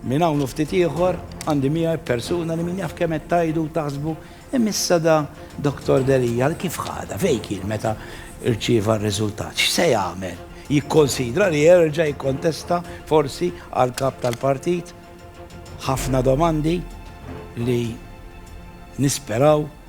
Minn hawn u ftit ieħor għandi miegħi persuna li min jaf kemm qed tajdu taħsbu imissa da Dr. Delija kif ħada fejn kien meta rċieva r-riżultat. X'se jagħmel? Jikkonsidra li jerġa' jikkontesta forsi għal kap tal-partit ħafna domandi li nisperaw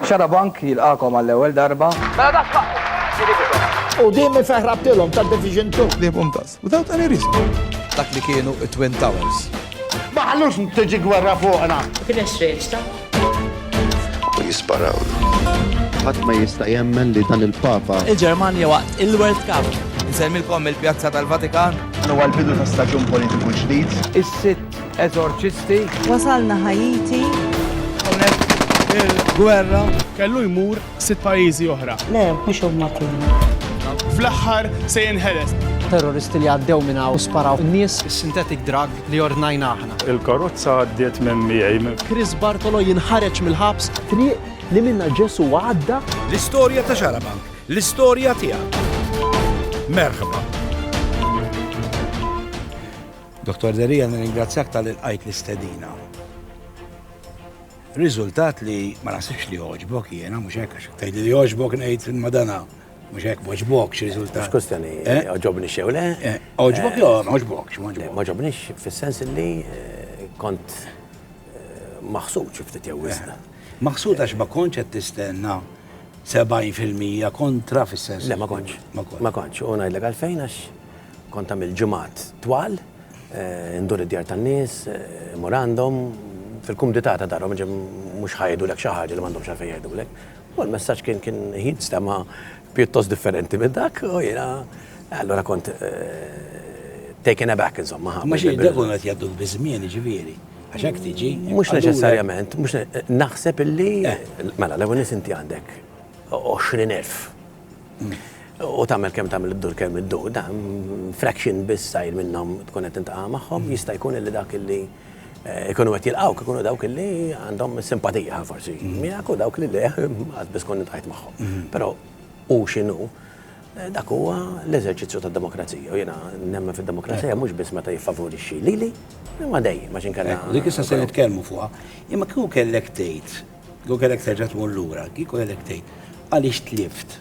Xarabank jilqagħkom għall-ewwel darba. Mela dak x'waqt. U din mifeħ rabtilhom ta' Division Two. Liebhom das, without any risk. Dak li kienu t-Twin Towers. Ma ħallux tiġi gwerra fuqna. Kien hemm x'reċta. U jisparawlu. Ħadd ma jista' jemmen li dan il-Papa. Il-Ġermanja waqt il-World Cup. Insellmilkom mill-Pjazza tal-Vatikan. Dan huwa l-bidu ta' staġun politiku ġdid. Is-sitt. Eżorċisti. Wasalna Ħaiti. Hawnhekk il-gwerra. Kellu jmur sitt pajjiżi oħra. Le, mhux huma kienu. Fl-aħħar se jinħeles. Terroristi li għaddew minn hawn sparaw nies. Is-synthetic drug li ordnajna aħna. Il-karozza għaddiet minn miegħi. Chris Bartolo jinħareġ mill-ħabs. Triq li minna Ġesu għadda. L-istorja ta' Xarabank, l-istorja tiegħek. Merħba. Dottor Delia nirringrazzjak talli lqajt l-istedina. Riżultat li ma naħsibx li jogħġbok jiena mhux hekk għax tgħidli li jogħġbok ngħid imma dana mhux hekk m'għoġbok xi riżultat. Mhux kwistjoni eh? għoġobni xew le. Eh, għoġbok eh, jew ma għoġbokx m'għoġbok. Ma ġobnix fis-sens li kont maħsud xi ftit jew wisna. Maħsud għax ma kontx qed tistenna 70% kontra fis-sens. Le ma kontx. Ma kontx. U ngħidlek għalfejn għax Kont tagħmel ġimgħat twal, indur id-djar tan-nies, immur għandhom, fil-kumdità ta' darhom, ġifieri mhux ħa jgħidulek xi ħaġa li m'għandhomx għalfejn jgħidulek. U l-messaġġ kien kien hi stema' pjuttost differenti minn dak u jiena allura kont taken aback insomma ħa. Imma xi d-devon qed jgħadduk biż-żmien jiġifieri? Għax hekk tiġi. Mhux neċessarjament, mhux naħseb illi mela l-ewwel nett inti għandek 20,000 U tagħmel kemm tagħmel iddur kemm iddur, dan fraction biss sajr minnhom tkun qed tintaqa' magħhom, jista' jkun illi dak illi eh, ikunu qed jilqgħu ikunu dawk illi għandhom simpatija forsi mhm. miegħek u dawk li le qatt biss kont ntajt magħhom. Mhm. Però u x'inhu eh, dak huwa l-eżerċizzju tad-demokrazija u jiena nemmen fid-demokrazija mhux biss meta jiffavorixxi lili, imma dejjem għax inkella. Dik issa se nitkellmu fuqha, imma kieku kellek tgħid Kieku kellek terġa' tmur lura, kieku kellek tgħid, għaliex tlift?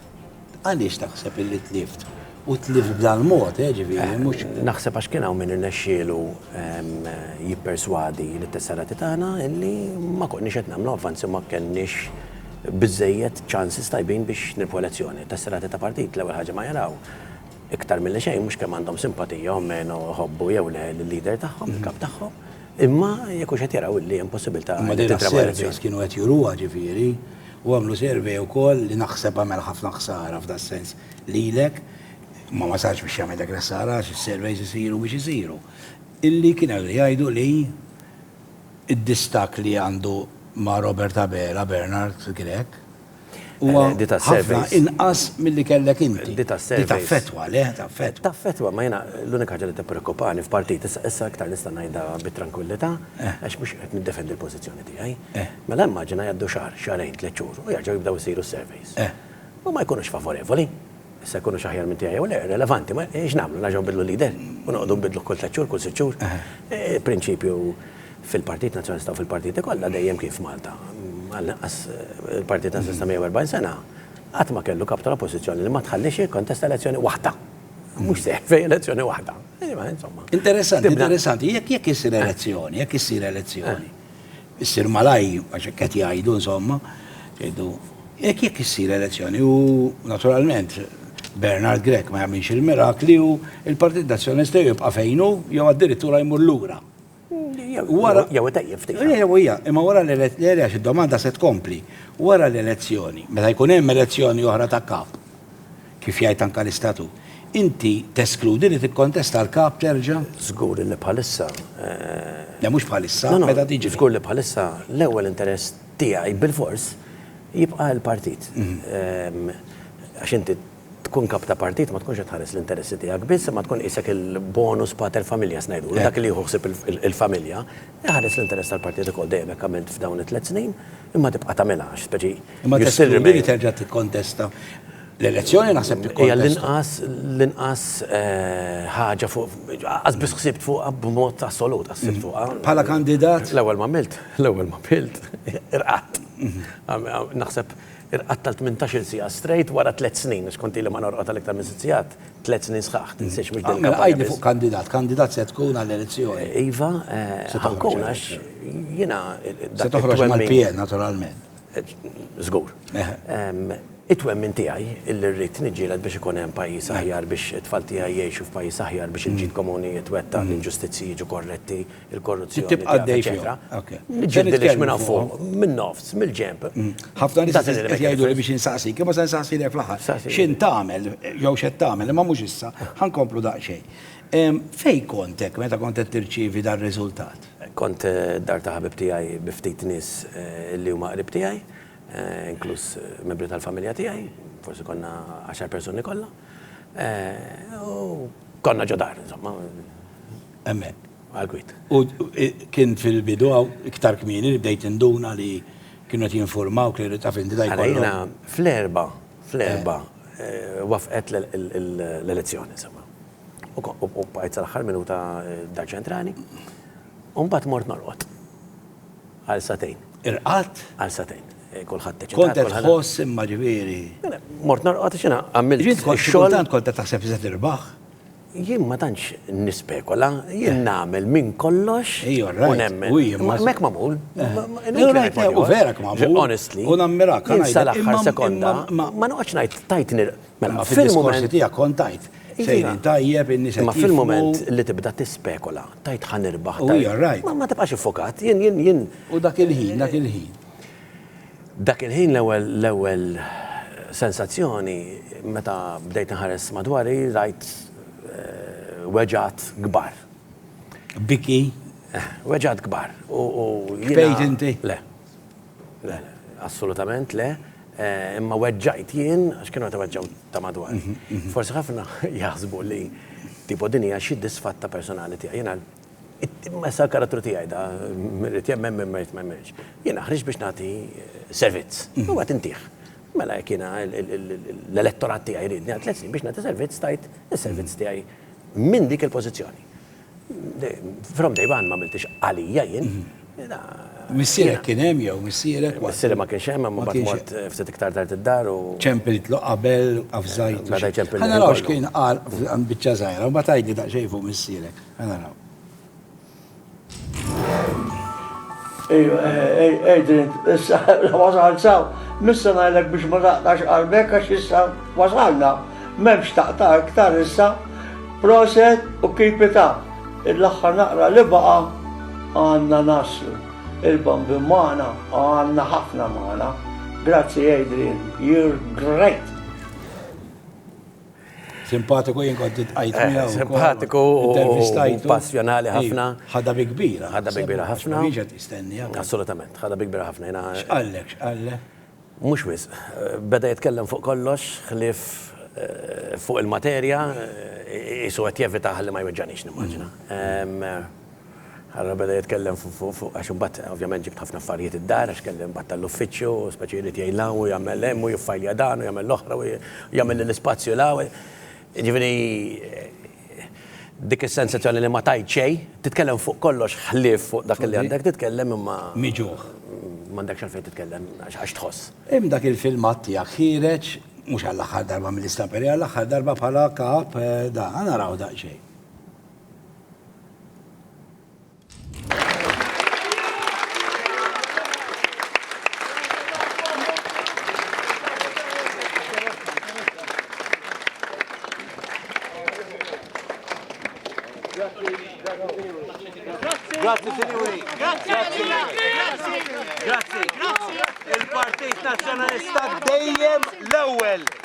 Għaliex taħseb illi tlift? U tlift b'dal-mod, eh, ġifieri, mhux. Naħseb għax kien hawn min irnexxielu jipperswadi lit-tesserati tagħna illi ma konniex qed nagħmlu avvanzi u ma kellniex biżżejjed chances tajbin biex nirbħu elezzjoni. It-tesserati ta' partit l-ewwel ħaġa ma jaraw, iktar milli xejn, mhux kemm għandhom simpatija u meno jħobbu jew le lil-leader tagħhom, il-kap tagħhom, Imma jekk hux qed jaraw li hemm possibilità. Imma dejna surveys kienu qed juruha ġifieri, u għamlu survey ukoll li naħseb għamel ħafna ħsara f'das-sens lilek, ma wasalx biex jagħmel dak il-ħsara għax is-surveys isiru biex isiru, illi kien hemm li jgħidu li d-distakk li għandu ma' Robert Abela, Bernard kien hekk? Huwa ħafna inqas milli kellek inti. Di taffettwa, le, taffettwa. Taffettwa, ma jiena l-unika ħaġa li tippreokkupani f'partit, issa iktar nista' ngħidha bit-trankwillità, għax mhux qed niddefendi l-pożizzjoni tiegħi. Mela immaġina jgħaddu xahar, xahrejn, tliet xhur u jerġgħu jibdew isiru s-surveys. Huma jkunux favorevoli. Issa jkunux aħjar minn tiegħi jew le, irrelevanti, ma x'nagħmlu, nerġgħu nbiddlu leader u noqogħdu nbiddluh kull tliet xhur, kull sitt xhur? Il-prinċipju fil-Partit Nazzjonalista u fil-partiti kollha dejjem kien f'Malta, għall-inqas il-Partit Nazzjonalista 140 sena, qatt ma kellu Kap tal-Oppożizzjoni li ma tħalliex jikkontesta elezzjoni waħda. Mhux seħħ f'ej elezzjoni waħda. Insomma. Interessanti, interessanti, jekk jekk issir elezzjoni, jekk issir elezzjoni. issir malajr, għax hekk qed jgħidu insomma, jgħidu jekk jekk issir elezzjoni u naturalment Bernard Grech ma jagħmilx il-mirakli u il-Partit Nazzjonista jibqa' fejn hu jew addirittura jmur lura. Wara jew itejjeb ftit. Jew hija, imma wara l-elezzjoni għax id-domanda se tkompli. Wara l-elezzjoni, meta jkun hemm elezzjoni oħra ta' kap, Kif jgħid anke l-Istatut. Inti teskludi li tikkontesta l-kap terġa'? Żgur li bħalissa. Le mhux bħalissa, meta tiġi. Żgur li bħalissa l-ewwel interess tiegħi bilfors jibqa' l-partit. Għax inti tkun kap ta' partit ma tkunx qed tħares l-interessi tiegħek biss imma tkun qisek il-bonus pater familias ngħidulu, dak li jieħu ħsieb il-familja, iħares l-interess tal-partit ukoll. Dejjem hekk għamilt f'dawn it-tliet snin, imma tibqa' tagħmilha għax speċi. Imma teskludi li terġa' tikkontesta? L-elezzjoni naħseb li hija l-inqas l-inqas eh, ħaġa fuq qas biss ħsibt fuq b'mod assolut ħsibt mm. fuq. Bħala kandidat? L-ewwel ma milt, l-ewwel ma milt, irqat. Mm-hmm. Naħseb irqat tal-18 sija straight wara tliet snin, xkonti li ma norqot għal iktar minn sijat, tliet snin sħaħ, tinsiex mhux din. Għajdi mela, fuq kandidat, kandidat se tkun għall-elezzjoni. Iva, eh, ħankun għax jiena. Se toħroġ mal-PN naturalment. Żgur. It-twemmin tiegħi illi rrid niġġieled biex ikun hemm pajjiż aħjar, biex it-tfal tiegħi jgħixu f'pajjiż aħjar, biex il-ġid komuni jitwettaq, l-inġustizzji jiġu korretti, il-korruzzjoni tieqaf, eċċetera. Niġġieled lilx minn hawn fuq, min-nofs, mill-ġenb. Ħafna nies qed jgħiduli biex insaqsik, imma se nsaqsilek fl-aħħar. X'int tagħmel jew x'qed tagħmel, imma mhux issa, ħa nkomplu daqsxejn. Fejn kont hekk meta kont qed tirċievi dar-riżultat? Kont d-dar ta' ħabib tiegħi bi ftit nies li huma qrib tiegħi, inkluż membri tal-familja tiegħi, forsi konna għaxar persuni kollha. U konna ġo dar, insomma. Hemmhekk. Għall-kwiet. U kien fil-bidu hawn iktar kmieni li bdejt induna li kienu qed jinfurmawk li taf inti da jkollok. Allura jiena fl-erbgħa, fl-erbgħa wafqet l-elezzjoni, insomma. u bqajt sal-aħħar minuta dar ċentrali. U mbagħad mort norqod. Għal satejn. Irqat? Għal satejn. Eh, kulħadd teċċa. Kont qed tħoss imma ġifieri. Mela, mort norqod xina għamilt. Jien kont xogħol kont qed taħseb se tirbaħ. Jien ma tantx nispekola, jien nagħmel minn kollox. Ejja, right. Mek mamul. U vera mamul. Honestly. U nammirak. Sal-aħħar sekonda. Ma noqgħodx ngħid tajt Mela, fil-moment tiegħek kont tajt. Sejrin tajjeb, in-nies qed jifhmu. Fil-moment li tibda tispekola, tajt ħa nirbaħ. U hija rajt. Ma tibqax iffokat, jien, jien, jien. U dak il-ħin, dak il-ħin. Dak il-ħin l-ewwel, l-ewwel sensazzjoni meta bdejt inħares madwari rajt weġgħat kbar. Biki? Weġgħat kbar. U, u. Bkejt inti? Le. Le, assolutament le, imma weġġajt jien għax kienu qed iweġġgħu ta' madwar. Forsi ħafna jaħsbu li tipo din hija xi disfatta personali tiegħi. Jiena imma issa l-karattru tiegħi da, min irid jemmen, min ma jrid ma jemmenx. Jiena ħriġt biex nagħti servizz, u qed intih. Mela jekk jiena l-elettorat tiegħi jridni għal tliet snin biex nagħti servizz, tajt is-servizz tiegħi minn dik il-pożizzjoni. From day one ma għamiltix għalija jien. Missierek kien hemm jew missierek? Missierek ma kienx hemm, imma bad mort ftit iktar tard id-dar u. Ċempiltlu qabel, avżajtu. Bada jċempilni. Ħa naraw x'kien qal għand biċċa żgħira, imbagħad għidli daqsxejn fuq missierek. Ħa naraw. Ejju, Adrian, issa wasal saw, missa ngħidlek biex ma taqtax qalbek għax issa wasalna. M'hemmx taqta' iktar issa, proset u keep it up. L-aħħar naqra li baqa' għandna naslu. Il-bambin magħna, għandna ħafna magħna. Grazzi Adrian, you're great! Simpatiku jien kont intqajt eh, miegħu. Simpatiku u passjonali ħafna. Ħadha bi kbira. Ħadha bi kbira ħafna. Jiġet istennija. Assolutament, ħadha bi kbira ħafna. X'qallek, x'qallek? Mhux wisq. Beda jitkellem fuq kollox ħlief fuq il-materja, qisu qed jevita ħalli ma jweġġagħnix nimmaġina. Allura beda jitkellem fuq, għax imbagħad ovvjament ġibt ħafna affarijiet id-dar għax kelli imbagħad tal-uffiċċju, speċi jrid jgħin 'l hawn u jagħmel hemm u jiffajlja dan u jagħmel l-oħra u jagħmel lill-ispazju 'l hawn. Jiġifieri dik is-sensazzjoni li ma tgħid xejn, titkellem fuq kollox ħlief fuq dak li għandek titkellem imma. Miġugħ. M'għandekx għalfejn titkellem għax tħoss. Hemm dak il-filmat tiegħek ħiereġ, mhux għall-aħħar darba mill-istamperi, għall-aħħar darba bħala kap da. Aħna narawh daqsxejn. Grazie signori. Grazie. Grazie. Grazie. Il-Partit Nazzjonalista dejjem l-ewwel.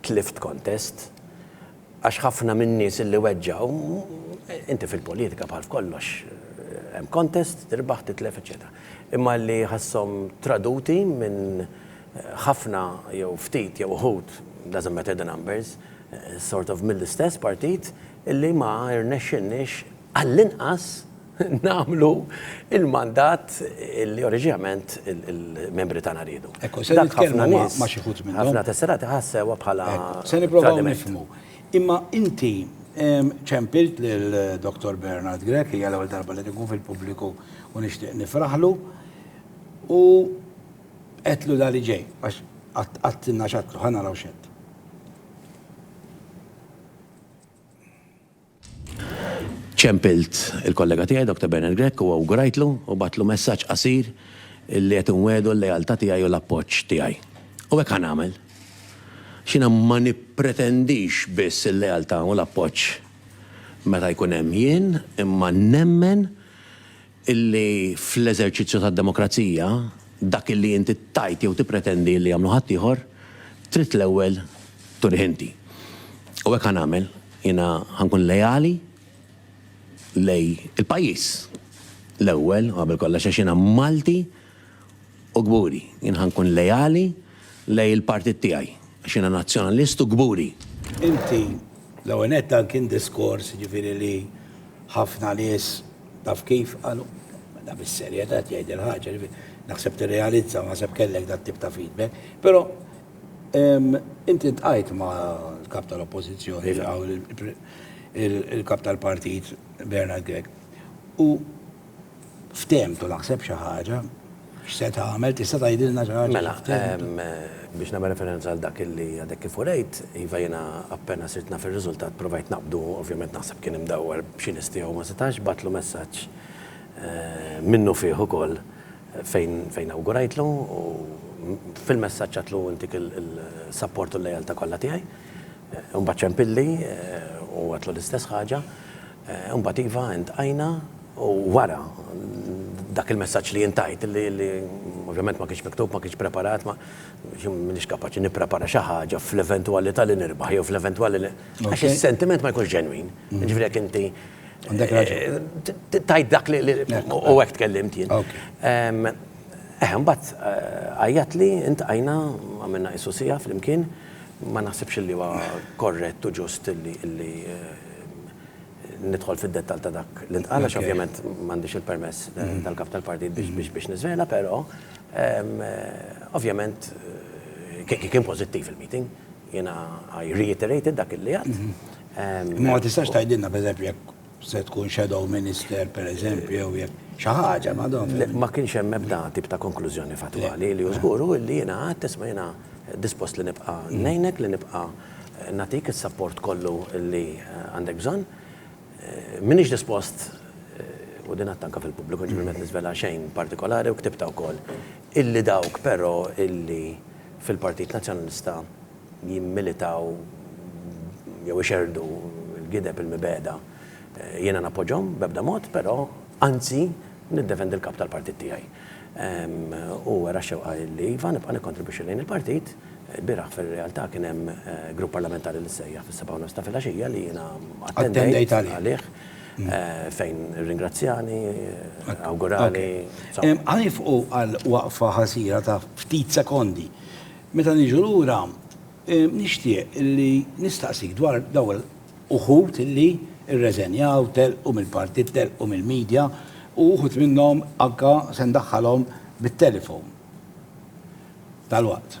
Tlift kontest, għax ħafna min-nies illi weġġgħu, inti fil-politika bħal f'kollox hemm kontest, tirbaħ, titlef, eċċetera. Imma li ħasshom traduti minn ħafna jew ftit jew uħud, doesn't matter the numbers, sort of mill-istess partit illi ma rnexxinniex għall-inqas, nagħmlu l-mandat li oriġinament il-membri tagħna riedu. Ekku, se nitkellmu ma' xi ħut minnhom. Ħafna tesseraħ ħassewha bħala. Se nippruvaw nifhmu. Imma inti ċempilt lil Dottor Bernard Grech, hija l-ewwel darba li tkun fil-pubbliku u nixtieq nifraħlu, u għedtlu dan li ġej, għax għattilna x'għedtlu, ħa naraw x'għedt. Ċempilt il-kollega tiegħi Doctor Bernard Grech u awgurajtlu u bgħattlu messaġġ qasir li qed inwiegħdu l-lealtà tiegħi u l-appoġġ tiegħi. U hekk ħa nagħmel. Għax jiena ma nippretendix biss il-lealtà u l-appoġġ meta jkun hemm jien, imma nemmen illi fl-eżerċizzju tad-demokrazija, dak illi inti tgħid jew tippretendi illi jagħmlu ħaddieħor, trid l-ewwel turih inti. U hekk ħa nagħmel. Jiena ħa nkun leali lejn il-pajjiż l-ewwel u qabel kollox għax jiena Malti, U kburi, jien ħa nkun leali lejn il-partit tiegħi, għax jiena Nazzjonalist u kburi. Inti, l-ewwel nett dan kien diskors jiġifieri li ħafna nies taf kif qalu, mela bis-serjetà qed jgħid il-ħaġa, jiġifieri naħseb tirrealizza u naħseb kellek dat-tip ta' feedback. Però inti ltqajt mal-Kap tal-Oppożizzjoni, il-Kap tal-Partit Bernard Grech, u, ftehmtu naħseb xi ħaġa, x'se tagħmel, tista' tgħidilna xi ħaġa? Mela, biex nagħmel referenza għal dak li għadek kif urejt, iva jiena appena sirt naf ir-riżultat provajt naqbdu, ovvjament naħseb kien imdawwar b'xi nies tiegħu ma setax, bagħtlu messaġġ minnufih ukoll fejn awgurajtlu u fil-messaġġ għedtlu intik il-sapport u l-lealtà kollha tiegħi. Imbagħad ċempilli u għedtlu l-istess ħaġa. Imbagħad iva intqajna u wara dak il-messaġġ li jien tajt li ovvjament ma kienx miktub, ma kienx preparat, ma m'iniex kapaċi nipprepara xi ħaġa fl-eventwalità li nirbaħ jew fl-eventwalità li għax is-sentiment ma jkunx ġenwin. Jiġifieri jekk inti tajt dak li u hekk tkellimt jien. Eħe imbagħad għajjatli, intqajna, għamilna qisu siegħa flimkien. Ma naħsibx illi huwa korrett u ġust illi illi nidħol fid-dettall ta' dak li ntqal għax ovvjament m'għandix il-permess tal-Kap tal-Partit biex biex niżvela, però ovvjament kien pożittiv il-meeting. Jiena I reiterated dak illi għedt. Imma ma tistax tgħidilna pereżempju jekk Se tkun shadow minister, per eżempju, jew jekk xi ħaġa ma dom. Le, ma kienx hemm ebda tip ta' konklużjoni fattwali li hu żgur hu li jiena għedt isma' jiena dispost li nibqa' ngħinek, li nibqa' nagħtik is-sapport kollu li għandek bżonn. M'iniex dispost, u din għadtha anke fil-pubbliku, ġifieri m'qed niżvela xejn partikolari u ktibtha wkoll, illi dawk però illi fil-Partit Nazzjonalista, jimmilitaw jew ixerrdu l-gideb il-mibegħda, jiena nappoġġhom b'ebda mod, però anzi niddefendi l-Kap tal-Partit tiegħi. Hu wera x-xewqa li iva, nibqa' nikkontribwixxi lejn il-Partit. Ilbieraħ fir-realtà kien hemm grupp parlamentari li ssejjaħ fis-sebgħa u nofs ta' filgħaxija li jiena attendejt għalih fejn irringrazzjani, awgurali. Ħa nifqu għal waqfa ħasira ta' ftit sekondi. Meta niġu lura, nixtieq li nistaqsik dwar dawn uħud li rreżenjaw, telqu mill-partit, telqu mill-media, u uħud minnhom anke se ndaħħalhom bit-telefon dalwaqt.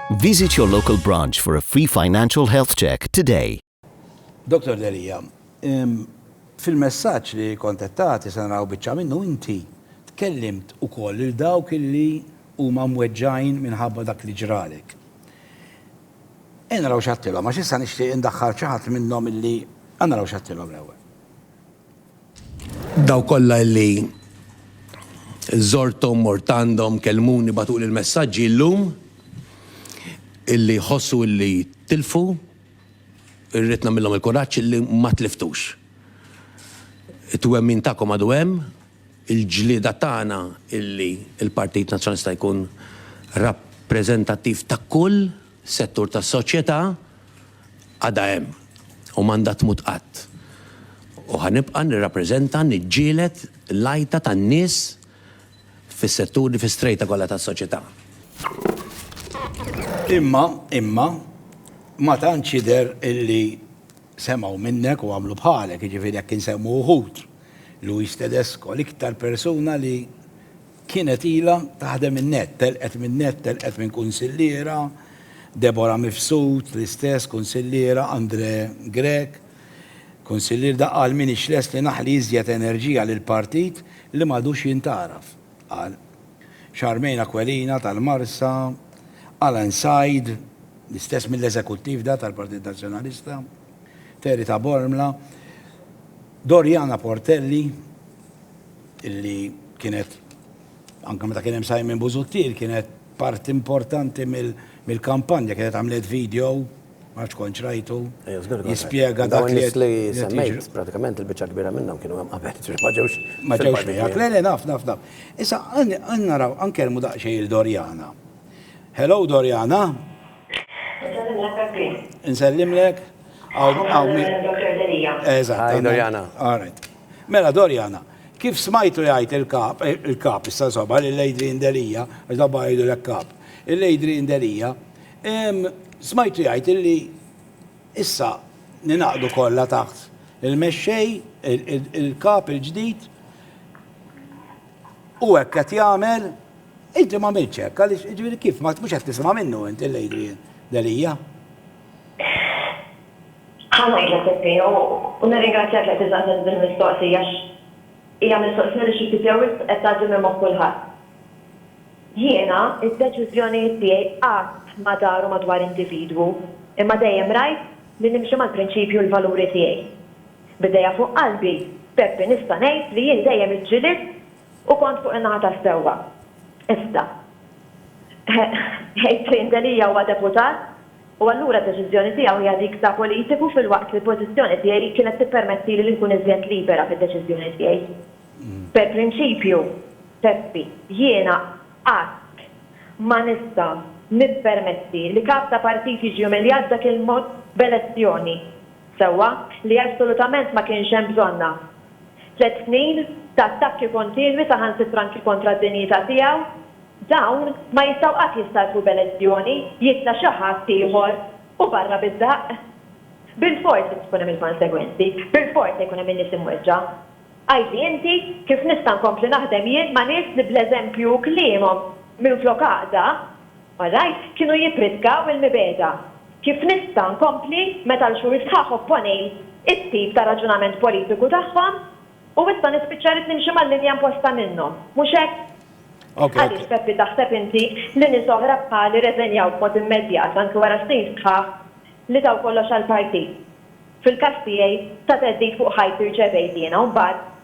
Visit your local branch for a free financial health check today. Dottor Delia, fil-messaġġ li kont qed tagħti se naraw biċċa minnu inti tkellimt ukoll lil dawk li huma mweġġgħin minħabba dak li ġralek. Ejja naraw x'għedtilhom għax issa nixtieq indaħħal xi ħadd minnhom illi ejja naraw x'għedtilhom l-ewwel. Dawk kollha li żorthom, mort għandhom, kellmuni, bagħtuli l-messaġġi llum illi jħossu illi tilfu, irrid nagħmilhom il-kuraġġ illi ma tliftux. It-twemmin tagħkom għadu hemm, il-ġlieda tagħna illi l-Partit Nazzjonalista jkun rappreżentattiv ta' kull settur tas-soċjetà, Għadha hemm u m'għandha tmut qatt. U ħa nibqa' nirrappreżenta, niġġieled l-għajta tan-nies fis-setturi, fis-strejta kollha tas-soċjetà. Imma, imma, ma tantx jidher illi semgħu minnek u għamlu bħalek, jiġifieri jekk insemmu wħud, Luis Tedesco, l-iktar persuna li Kienet ilha taħdem in-nett, telqet min-nett, telqet minn kunsilliera, Deborah Mifsud, l-istess, kunsilliera, Andre Grech, kunsillier daqqa għal min hix lest li naħli iżjed enerġija lill-partit li m'għadux jintgħaraf, qal. Charmaine Aquilina tal-Marsa, Alan Said, l-istess mill-eżekuttiv da tal-Partit Nazzjonalista, Terry Tabormla, Doriana Portelli, illi kienet, anke meta kien hemm Simon Busuttil, kienet parti importanti mill-kampanja, kienet għamlet video, ma nafx kontx rajtu, jispjega dak li. Dawn li semmejt, pratikament il-biċċa kbira minnhom kienu hemm qabel, ġifieri ma ġewx. Ma ġewx miegħek. Le, le, naf, naf, naf. Issa, għan naraw, għan nkellmu daqsxejn lil Doriana. Hello, Doriana. Insellimlek. Insellimlek. Hi, Doriana. All right. Mela, Doriana, kif smajtu jgħid il-kap, eh, il-kap, issa soba, li l-Adrian Delija, għax dabba jgħidu l-kap, l-Adrian Delija, smajtu jgħid li issa ninaqdu kollha taħt il-mexxej, il-kap il-ġdid, u hekk qed jagħmel, inti ma minċek, għaliex ġifieri kif ma tmux qed tisimha minnu inti l-Adrian Delija. Ħa ngħidlek Peppino, u nirringrazzjak li qed isaqsini din il-mistoqsija għax hija mistoqsija li xi ftit jew wisq qed tgħaddi minn moħħ kulħadd. Jiena d-deċiżjonijiet tiegħi qatt ma daru madwar individwu, imma dejjem rajt li nimxi mal-prinċipji u l-valuri tiegħi. B'idejja fuq qalbi, Peppi nista' ngħid li jien dejjem iġġilidt u kont fuq in-naħa tas-sewwa. Iżda. Ħejt fejn Delia huwa deputat u allura d-deċiżjoni tiegħu hija dik ta' politiku filwaqt li l-pożizzjoni tiegħi kienet tippermettili li nkun iżjed libera fid-deċiżjoni tiegħi. Per prinċipju, Peppi, jiena qatt ma nista' nippermetti li Kap ta' Partit jiġi umiljat b'dak il-mod b'elezzjoni. sewwa, li assolutament ma kienx hemm bżonnha. Tliet snin ta' attakki kontinwi saħansitra anki kontra d-dinjità tiegħu, dawn ma jistgħu qatt jistalfu b'elezzjoni, jitla' xi ħadd ieħor u barra bid-daqq. Bilfors se tkun hemm il-konsegwenzi, bilfors se jkun hemm in-nies imweġġa'. Għidli inti kif nista' nkompli naħdem jien ma' nies li bl-eżempju u kliemhom minflok għaqda, Malajr kienu jippritkaw il-mibegħda. Kif nista' nkompli meta l-xhur sħaħ opponi t-tip ta' raġunament politiku tagħhom u issa nispiċċa rrid nimxi mal-linja imposta minnhom, mhux hekk? Għaliex, Peppi, taħseb inti li nies oħra bħali rreżenjaw b'mod immedjat anki wara snin sħaħ li taw kollox għall-partit? Fil-każ tiegħi, ta' theddid fuq ħajti rċevejt jiena u mbagħad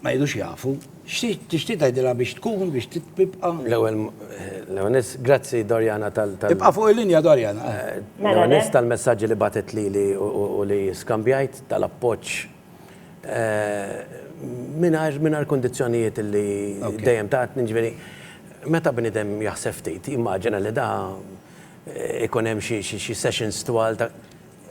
Ma jridux jafu. X'tixtieq tixtieq tgħidilha biex tkun biex tibqa'? L-ewwel l-ewwel ness grazzi Doriana tal tal Ibqa' fuq il-linja Doriana. L-ewwel ness tal-messaġġi li bagħtet lili u li skambjajt tal-appoġġ mingħajr mingħajr kundizzjonijiet illi dejjem tatni, jiġifieri meta bniedem jaħseb ftit jimmaġina li da ikun hemm xi xi sessions twal ta'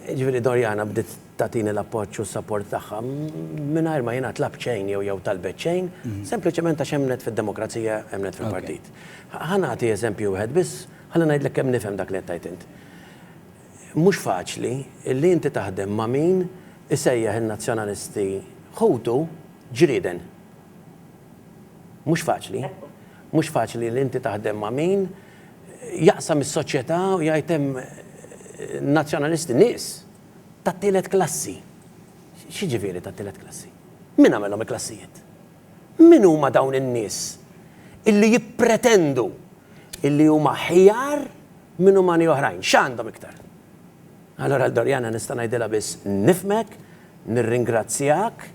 Jiġifieri Doriana bdiet tagħtini l-appoġġ u s-sapport tagħha mingħajr ma jiena tlabt xejn jew jew talbet xejn, sempliċement għax emmnet fid-demokrazija, emmnet fil-partit. Ħa nagħti eżempju wieħed biss ħalli ngħidlek kemm nifhem dak li qed tgħid int. Mhux faċli li inti taħdem ma' min isejjaħ in-Nazzjonalisti ħutu ġrieden. Mhux faċli. Mhux faċli li inti taħdem ma' min jaqsam is-soċjetà u jgħid hemm Nazzjonalisti nies tat-tielet klassi. X'jiġifieri tat-tielet klassi? Min għamilhom il-klassijiet? Min huma dawn in-nies illi jippretendu illi huma ħjar minn umani oħrajn? X'għandhom iktar? Allura Doriana nista' ngħidilha biss nifhmek, nirringrazzjak,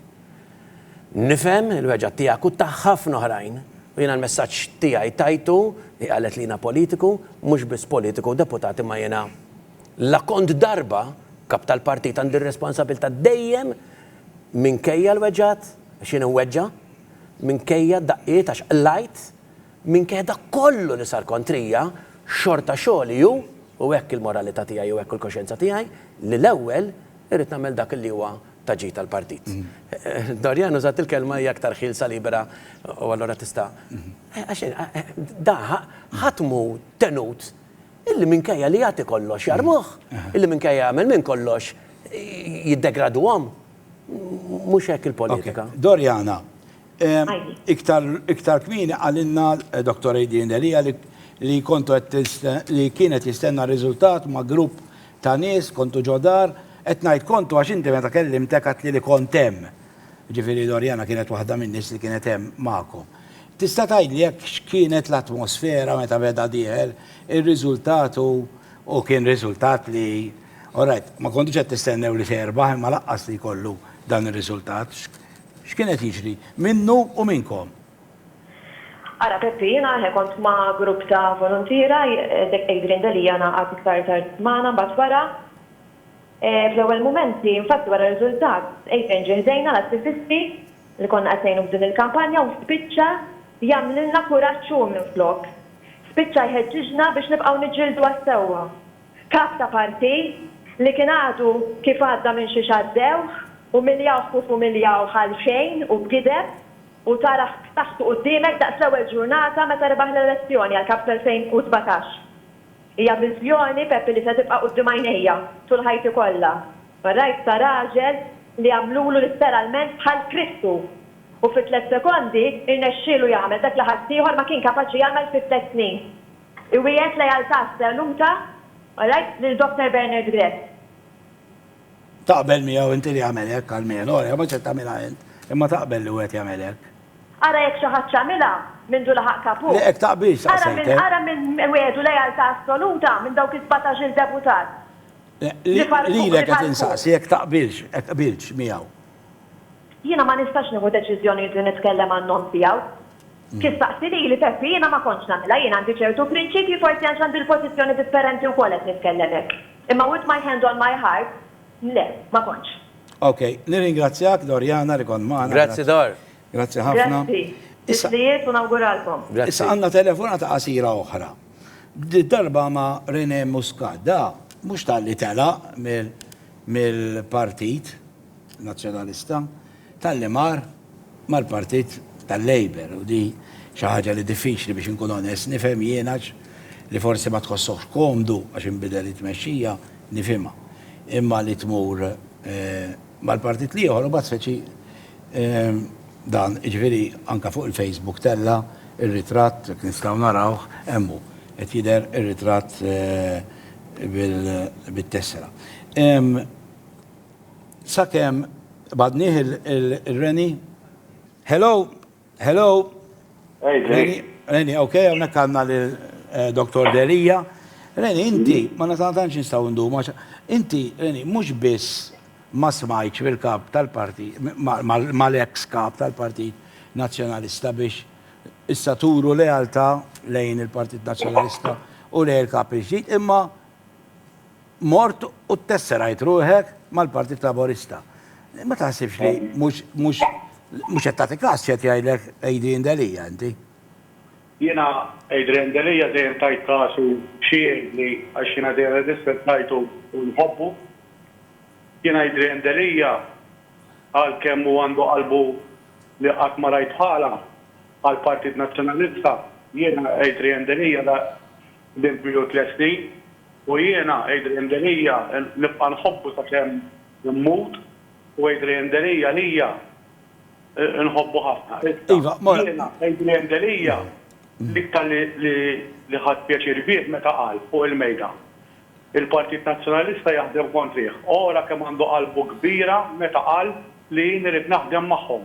Nifhem il-weġgħa tiegħek u ta' ħafna oħrajn u jiena l-messaġġ tiegħi tajtu, hi qalet li jiena politiku, mhux biss politiku u deputat imma jiena la kont darba Kap tal-Partit għandi r-responsabilità dejjem minkejja l-weġgħat, għax jien inweġġa', minkejja d-daqqiet għax qlajt, minkejja dak kollu li sar kontrija, xorta xogħli hu, u hekk il-moralità tiegħi u hekk il-koxjenza tiegħi, li l-ewwel irrid nagħmel dak li huwa ta' ġid għall-partit. Doriane użat il-kelma hija aktar ħielsa libera u allura tista' da ħadd mhu tenut illi minkejja li jagħti kollox jarmuh, illi minkejja jagħmel minn kollox jiddegraduhom. Mhux hekk il-politika. Doriana, iktar kmieni qalilna Dottor Adrian Delia li kontu qed li kienet jistenna riżultat ma' grupp Ta' nies, kontu ġo dar. Qed ngħid kontu għax inti meta kellimtek għedtli li kont hemm. Jiġifieri Loriana kienet waħda min-nies li kienet hemm magħkom. Tista' tgħidli jekk x'kienet l-atmosfera meta beda dieher ir-riżultat u u kien riżultat li orajt, ma kontux qed tistennew li se jirbaħ imma laqqas li jkollu dan ir-riżultat. X'kien qed jiġri minnu u minnkom? Ara Peppi, jiena eħe kont ma' grupp ta' voluntiera, dik Adrian Delia ngħaqad iktar tard magħna mbagħad wara. Fl-ewwel mumenti, infatti wara r-riżultat, Adrian ġie ħdejna l-attivisti li konna qed ngħinu f'din il-kampanja u spiċċa jagħmlilna kuraġġ hu minflok. Spiċċa jħeġġiġna biex nibqgħu niġġieldu għas-sewwa. Kap ta' partit li kien għadu kif għadda minn xiex għaddewh, umiljawh kif umiljawh għalxejn u b'gideb. u tarah b'saħħtu quddiemek daqs l-ewwel ġurnata meta rebaħ l-elezzjoni għall-Kap fl-2017. Hija viżjoni, Peppi, li se tibqa' quddiem għajnejja tul ħajti kollha. Rajt ta' raġel li għamlulu litteralment bħal Kristu u fi tliet sekondi rnexxielu jagħmel dak li ħaddieħor ma kien kapaċi jagħmel fi tliet snin. Iwiegħed lealtà assoluta, rajt lil Dr. Bernard Grech. Taqbel miegħu inti li jagħmel hekk, almenu, ara jekk ma ċed tagħmilha int, imma taqbel li wieħed jagħmel hekk? Ara jekk xi ħadd x'għamilha mindu laħaq Kapu? Le, hekk taqbilx, staqsejtek. Ara min wegħdu lealtà assoluta minn dawk is-sbatax-il deputat li farrkuh, li farrkuh. Lilek qed insaqsi jekk taqbilx, hekk qbiltx miegħu? Jiena ma nistax nieħu deċiżjonijiet li nitkellem għan-nom tiegħu. Kif staqsi lili, Peppi, jiena ma kontx nagħmilha, jien għandi ċertu prinċipji, forsi għax għandi l-pożizzjoni differenti wkoll qed nitkellem hekk. Imma with my hand on my heart, le, ma kontx. Ok, nirringrazzjak Doriana li kont magħna. Grazzi Dor. Grazzi ħafna. Grazzi. Titlijiet u nawguralkom. Grazzi. Issa għandna telefonata qasira oħra. Did-darba ma' Rene Muscat. Da mhux talli telaq mill-Partit Nazzjonalista. Talli mar mal-Partit tal-Labour u di xi ħaġa li diffiċli biex inkun onest nifhem jiena għax li forsi ma tħossokx komdu għax inbidel it-tmexxija nifhimha. Imma li tmur mal-partit l-ieħor u mbagħad speċi dan jiġifieri anke fuq il-Facebook tella' r-ritratt jekk nistgħu narawh hemm hu qed jidher ir-ritratt bil-tessera. Sakemm b'għadnih il-Reni. Hello! Hello! Reni, Reni, ok, hawnhekk għandna lil Doktor Delia. Reni, inti, ma tantx nistgħu ndumu għax inti, Reni, mhux biss ma smajtx mill-Kap tal-Partit, mal-eks Kap tal-Partit Nazzjonalista biex issa turu lealtà lejn il-Partit Nazzjonalista u lejn il-Kap il-ġdid, imma mort u ttesserajt ruħek mal-Partit Laburista. Ma taħsibx li mhux mhux mhux qed tagħti każ x'qed jgħidlek Adrian Delia inti? Jiena Adrian Delia dejjem tajt każ u xi jgħidli għax jiena dejjem irrispettajtu u nħobbu. Jiena Adrian Delia għalkemm hu għandu qalbu li qatt ma rajt bħalha għall-Partit Nazzjonalista, jiena Adrian Delia Din tmilu tliet snin u jiena, Adrian Delia, nibqa' nħobbu sakemm immut u Adrian Delia lija nħobbu ħafna. Issa, jiena, Adrian Delia, l-iktar li ħadt pjaċir bih meta qal, fuq il-mejda, il-Partit Nazzjonalista jaħdem kontrih. Ora kemm għandu qalbu kbira meta qal li jien irrid naħdem magħhom.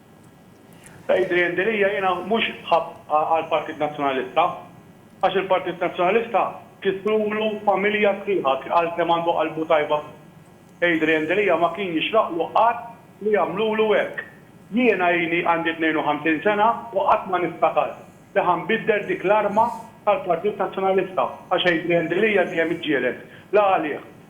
Adrian Delia, Jiena mhux ħabb għall-Partit Nazzjonalista għax il-Partit Nazzjonalista kisrulu familja sħiħa għal kemm għandu qalbu tajba fih. Adrian Delia ma kien jixraqlu qatt li jagħmlulu hekk. Jiena ili għandi 52 sena u qatt ma niftakar li ħa nbiddel dik l-arma tal-Partit Nazzjonalista għax Adrian Delia dejjem iġġieled la għalih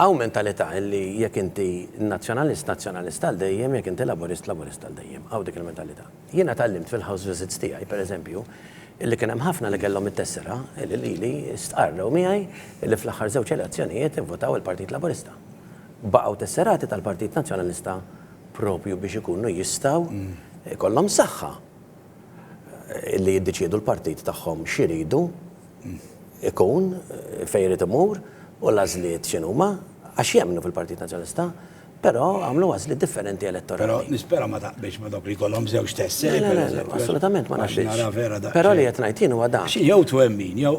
Hawn mentalità li jekk inti Nazzjonalist, Nazzjonalist għal dejjem, jekk inti Laburist, Laburist għal dejjem. Hawn dik il-mentalità. Jiena tgħallimt fil-house visits tiegħi, per eżempju, illi kien hemm ħafna li kellhom it-tessera illi lili stqarrew miegħi illi fl-aħħar żewġ elezzjonijiet ivvotaw il-Partit Laburista. Baqgħu tesserati tal-Partit Nazzjonalista proprju biex ikunu jistgħu jkollhom saħħa. li jiddeċiedu l-partit tagħhom x'iridu jkun, fejn irid imur u l-għażliet x'inhuma, għax jemmnu fil-Partit Nazzjonalista, però għamlu għażliet differenti elettorali. Però nispera ma taqbilx ma' dawk li jkollhom żewġ tesseri, pereżempju. Assolutament ma naqbilx. Però li qed ngħid jien huwa dan. Xi jew twemmin, jew.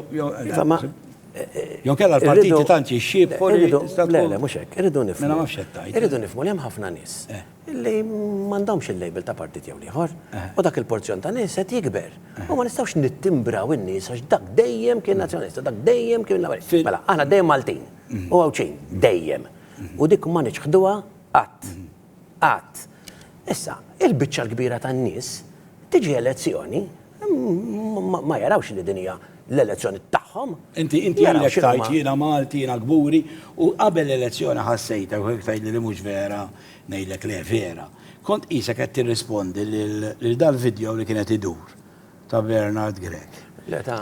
Jew kellha l-partiti tant jixxiebħu li. Le, le, mhux hekk. Irridu nifhmu. Mela ma nafx x'qed tgħid. Irridu nifhmu li hemm ħafna nies. li m'għandhomx il-label ta' partit jew l-ieħor, u dak il-porzjon ta' nies qed jikber. U ma nistgħux nittimbraw in-nies għax dak dejjem kien Nazzjonalista, dak dejjem kien Laburista. Mela, aħna dejjem Maltin u Għawdxin, dejjem. U dik ma niċħduha qatt. Qatt. Issa, il-biċċa l-kbira tan-nies tiġi elezzjoni ma jarawx li din hija l-elezzjoni tagħhom. Inti ilek tgħid jiena Malti, jiena kburi, u qabel l-elezzjoni ħassejtek u hekk tgħidli li mhux vera. Ngħidlek le, vera. Kont qisek qed tirrispondi lil dal-vidjow li kien qed idur ta' Bernard Grech. Le ta'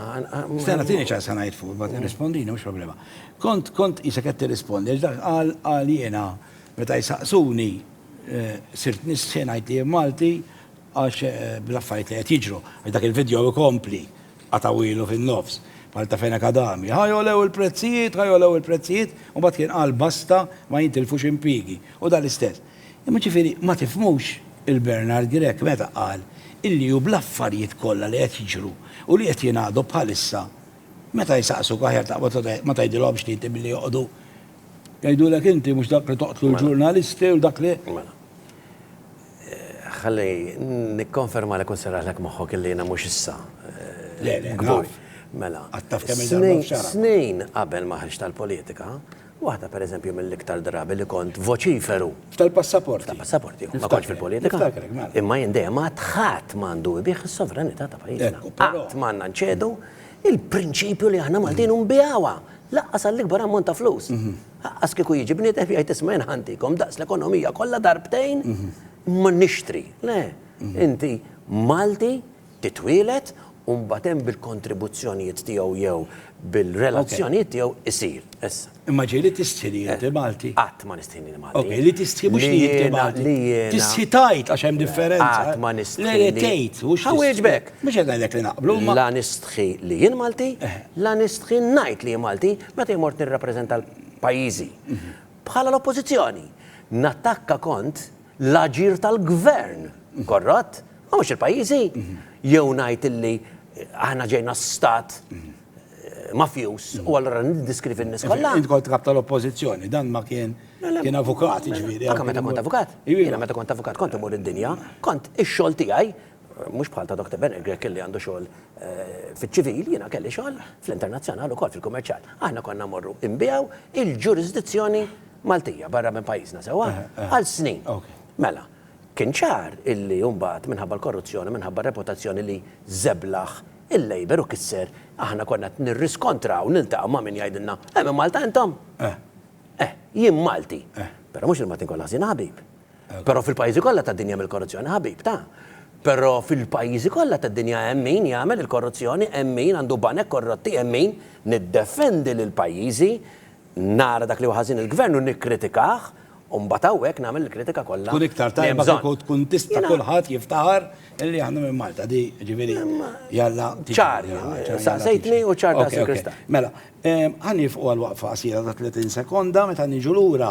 Stenna tieni ċans ħa ngħid fuq, imbagħad irrispondini mhux problema. Kont kont qisek qed tirrispondi għax dak qal qal jiena meta jsaqsuni sirt nistħi ngħid li jien Malti għax bl-affarijiet li qed jiġru. Għax dak il-vidjow ikompli. Qatgħu ilu fin-nofs, bħal ta' Fenech Adami, Ħa jogħlew il-prezzijiet, ħa jogħlew il-prezzijiet, u mbagħad kien qal basta ma jintilfux impjiegi, u dan l-istess. Imma ġifieri ma tifhmux il-Bernard Grech meta qal illi hu bl-affarijiet kollha li qed jiġru u li qed jingħadu bħalissa meta jsaqsuk aħjar taqbad u ma tgħidilhomx li inti billi joqogħdu jgħidulek inti mhux dak li toqtlu l-ġurnalisti u dak li. Mela. Ħalli nikkonfermalek u nserraħlek moħħok illi jiena mhux issa kbur. Mela, snin qabel ma ħriġt għall-politika, waħda pereżempju mill-iktar drabi li kont voċiferu. F'tal-passaporti. F'tal-passaporti, jew ma kontx fil-politika. Niftakrek, mela. Imma jien dejjem għedt ħadd m'għandu jbiegħ is-sovranità ta' pajjiżna. Qatt m'għandna nċedu l-prinċipju li aħna Maltin u nbiegħuha, lanqas għall-ikbar ammont ta' flus. Aqqas kieku jiġi bniedem jgħid isma' jien ħantikom daqs l-ekonomija kollha darbtejn ma nixtri. Le, inti Malti, titwieled u mbagħad hemm bil-kontribuzzjonijiet tiegħu jew bil-relazzjonijiet tiegħu jsir. Issa. Imma ġej li tistħi li inti Malti? Qatt ma nistħi li jiena Malti. Okej, li tistħi mhux li inti Malti. Li jiena. Tistħi tgħid għax hemm differenza. Qatt ma nistħi. Le le tgħid mhux. Ħa wieġbek. Mhux qed ngħidlek li naqblu. La nistħi li jien Malti, la nistħi ngħid li jien Malti, Meta jien mort nirrappreżenta pajjiżi bħala l-Oppożizzjoni, nattakka kont l-aġir tal-Gvern korrott, ma mhux il-pajjiżi, jew ngħid illi aħna ġejna stat mafjuż u allura niddiskrivi n-nies kollha. Int kont kap tal-Oppożizzjoni, dan ma kien kien avukat, jiġifieri. Anke meta kont avukat. Jiena meta kont avukat kont imur id-dinja, kont ix-xogħol tiegħi Mhux bħal ta' Doctor Benner Grech illi għandu xogħol fiċ-ċivil, jiena kelli xogħol fl-internazzjonal ukoll fil-kummerċjal. Aħna konna mmorru nbiegħu il-ġurisdizzjoni Maltija barra minn pajjiżna sewwa għal snin. Mela, kien ċar illi mbagħad minħabba l-korruzzjoni, minħabba r-reputazzjoni li żeblaħ il-Labour u kisser, aħna konna qed nirriskontraw, niltaqgħu ma' min jgħidilna, eh minn Malta intom? Eh, jien Malti. Però mhux il-Maltin kollha ħżiena ħabib. Però fil-pajjiżi kollha tad-dinja hemm il-korruzzjoni, ħabib, ta. Però fil-pajjiżi kollha tad-dinja hemm min jagħmel il-korruzzjoni, hemm min għandu banek korrotti, hemm min, niddefendi lil pajjiżi, nara dak li hu ħażin il-Gvern u nikkritikah, u mbagħad hawnhekk nagħmel il-kritika kollha li hemm bżonn. Tkun iktar tajba kieku tkun tista' kulħadd jiftaħar li aħna minn Malta, di ġifieri jalla. Ċar, saqsejtni u ċar daqs il-kristall. Mela, ħa nieqfu għal waqfa qasira ta' 30 sekonda, meta niġu lura.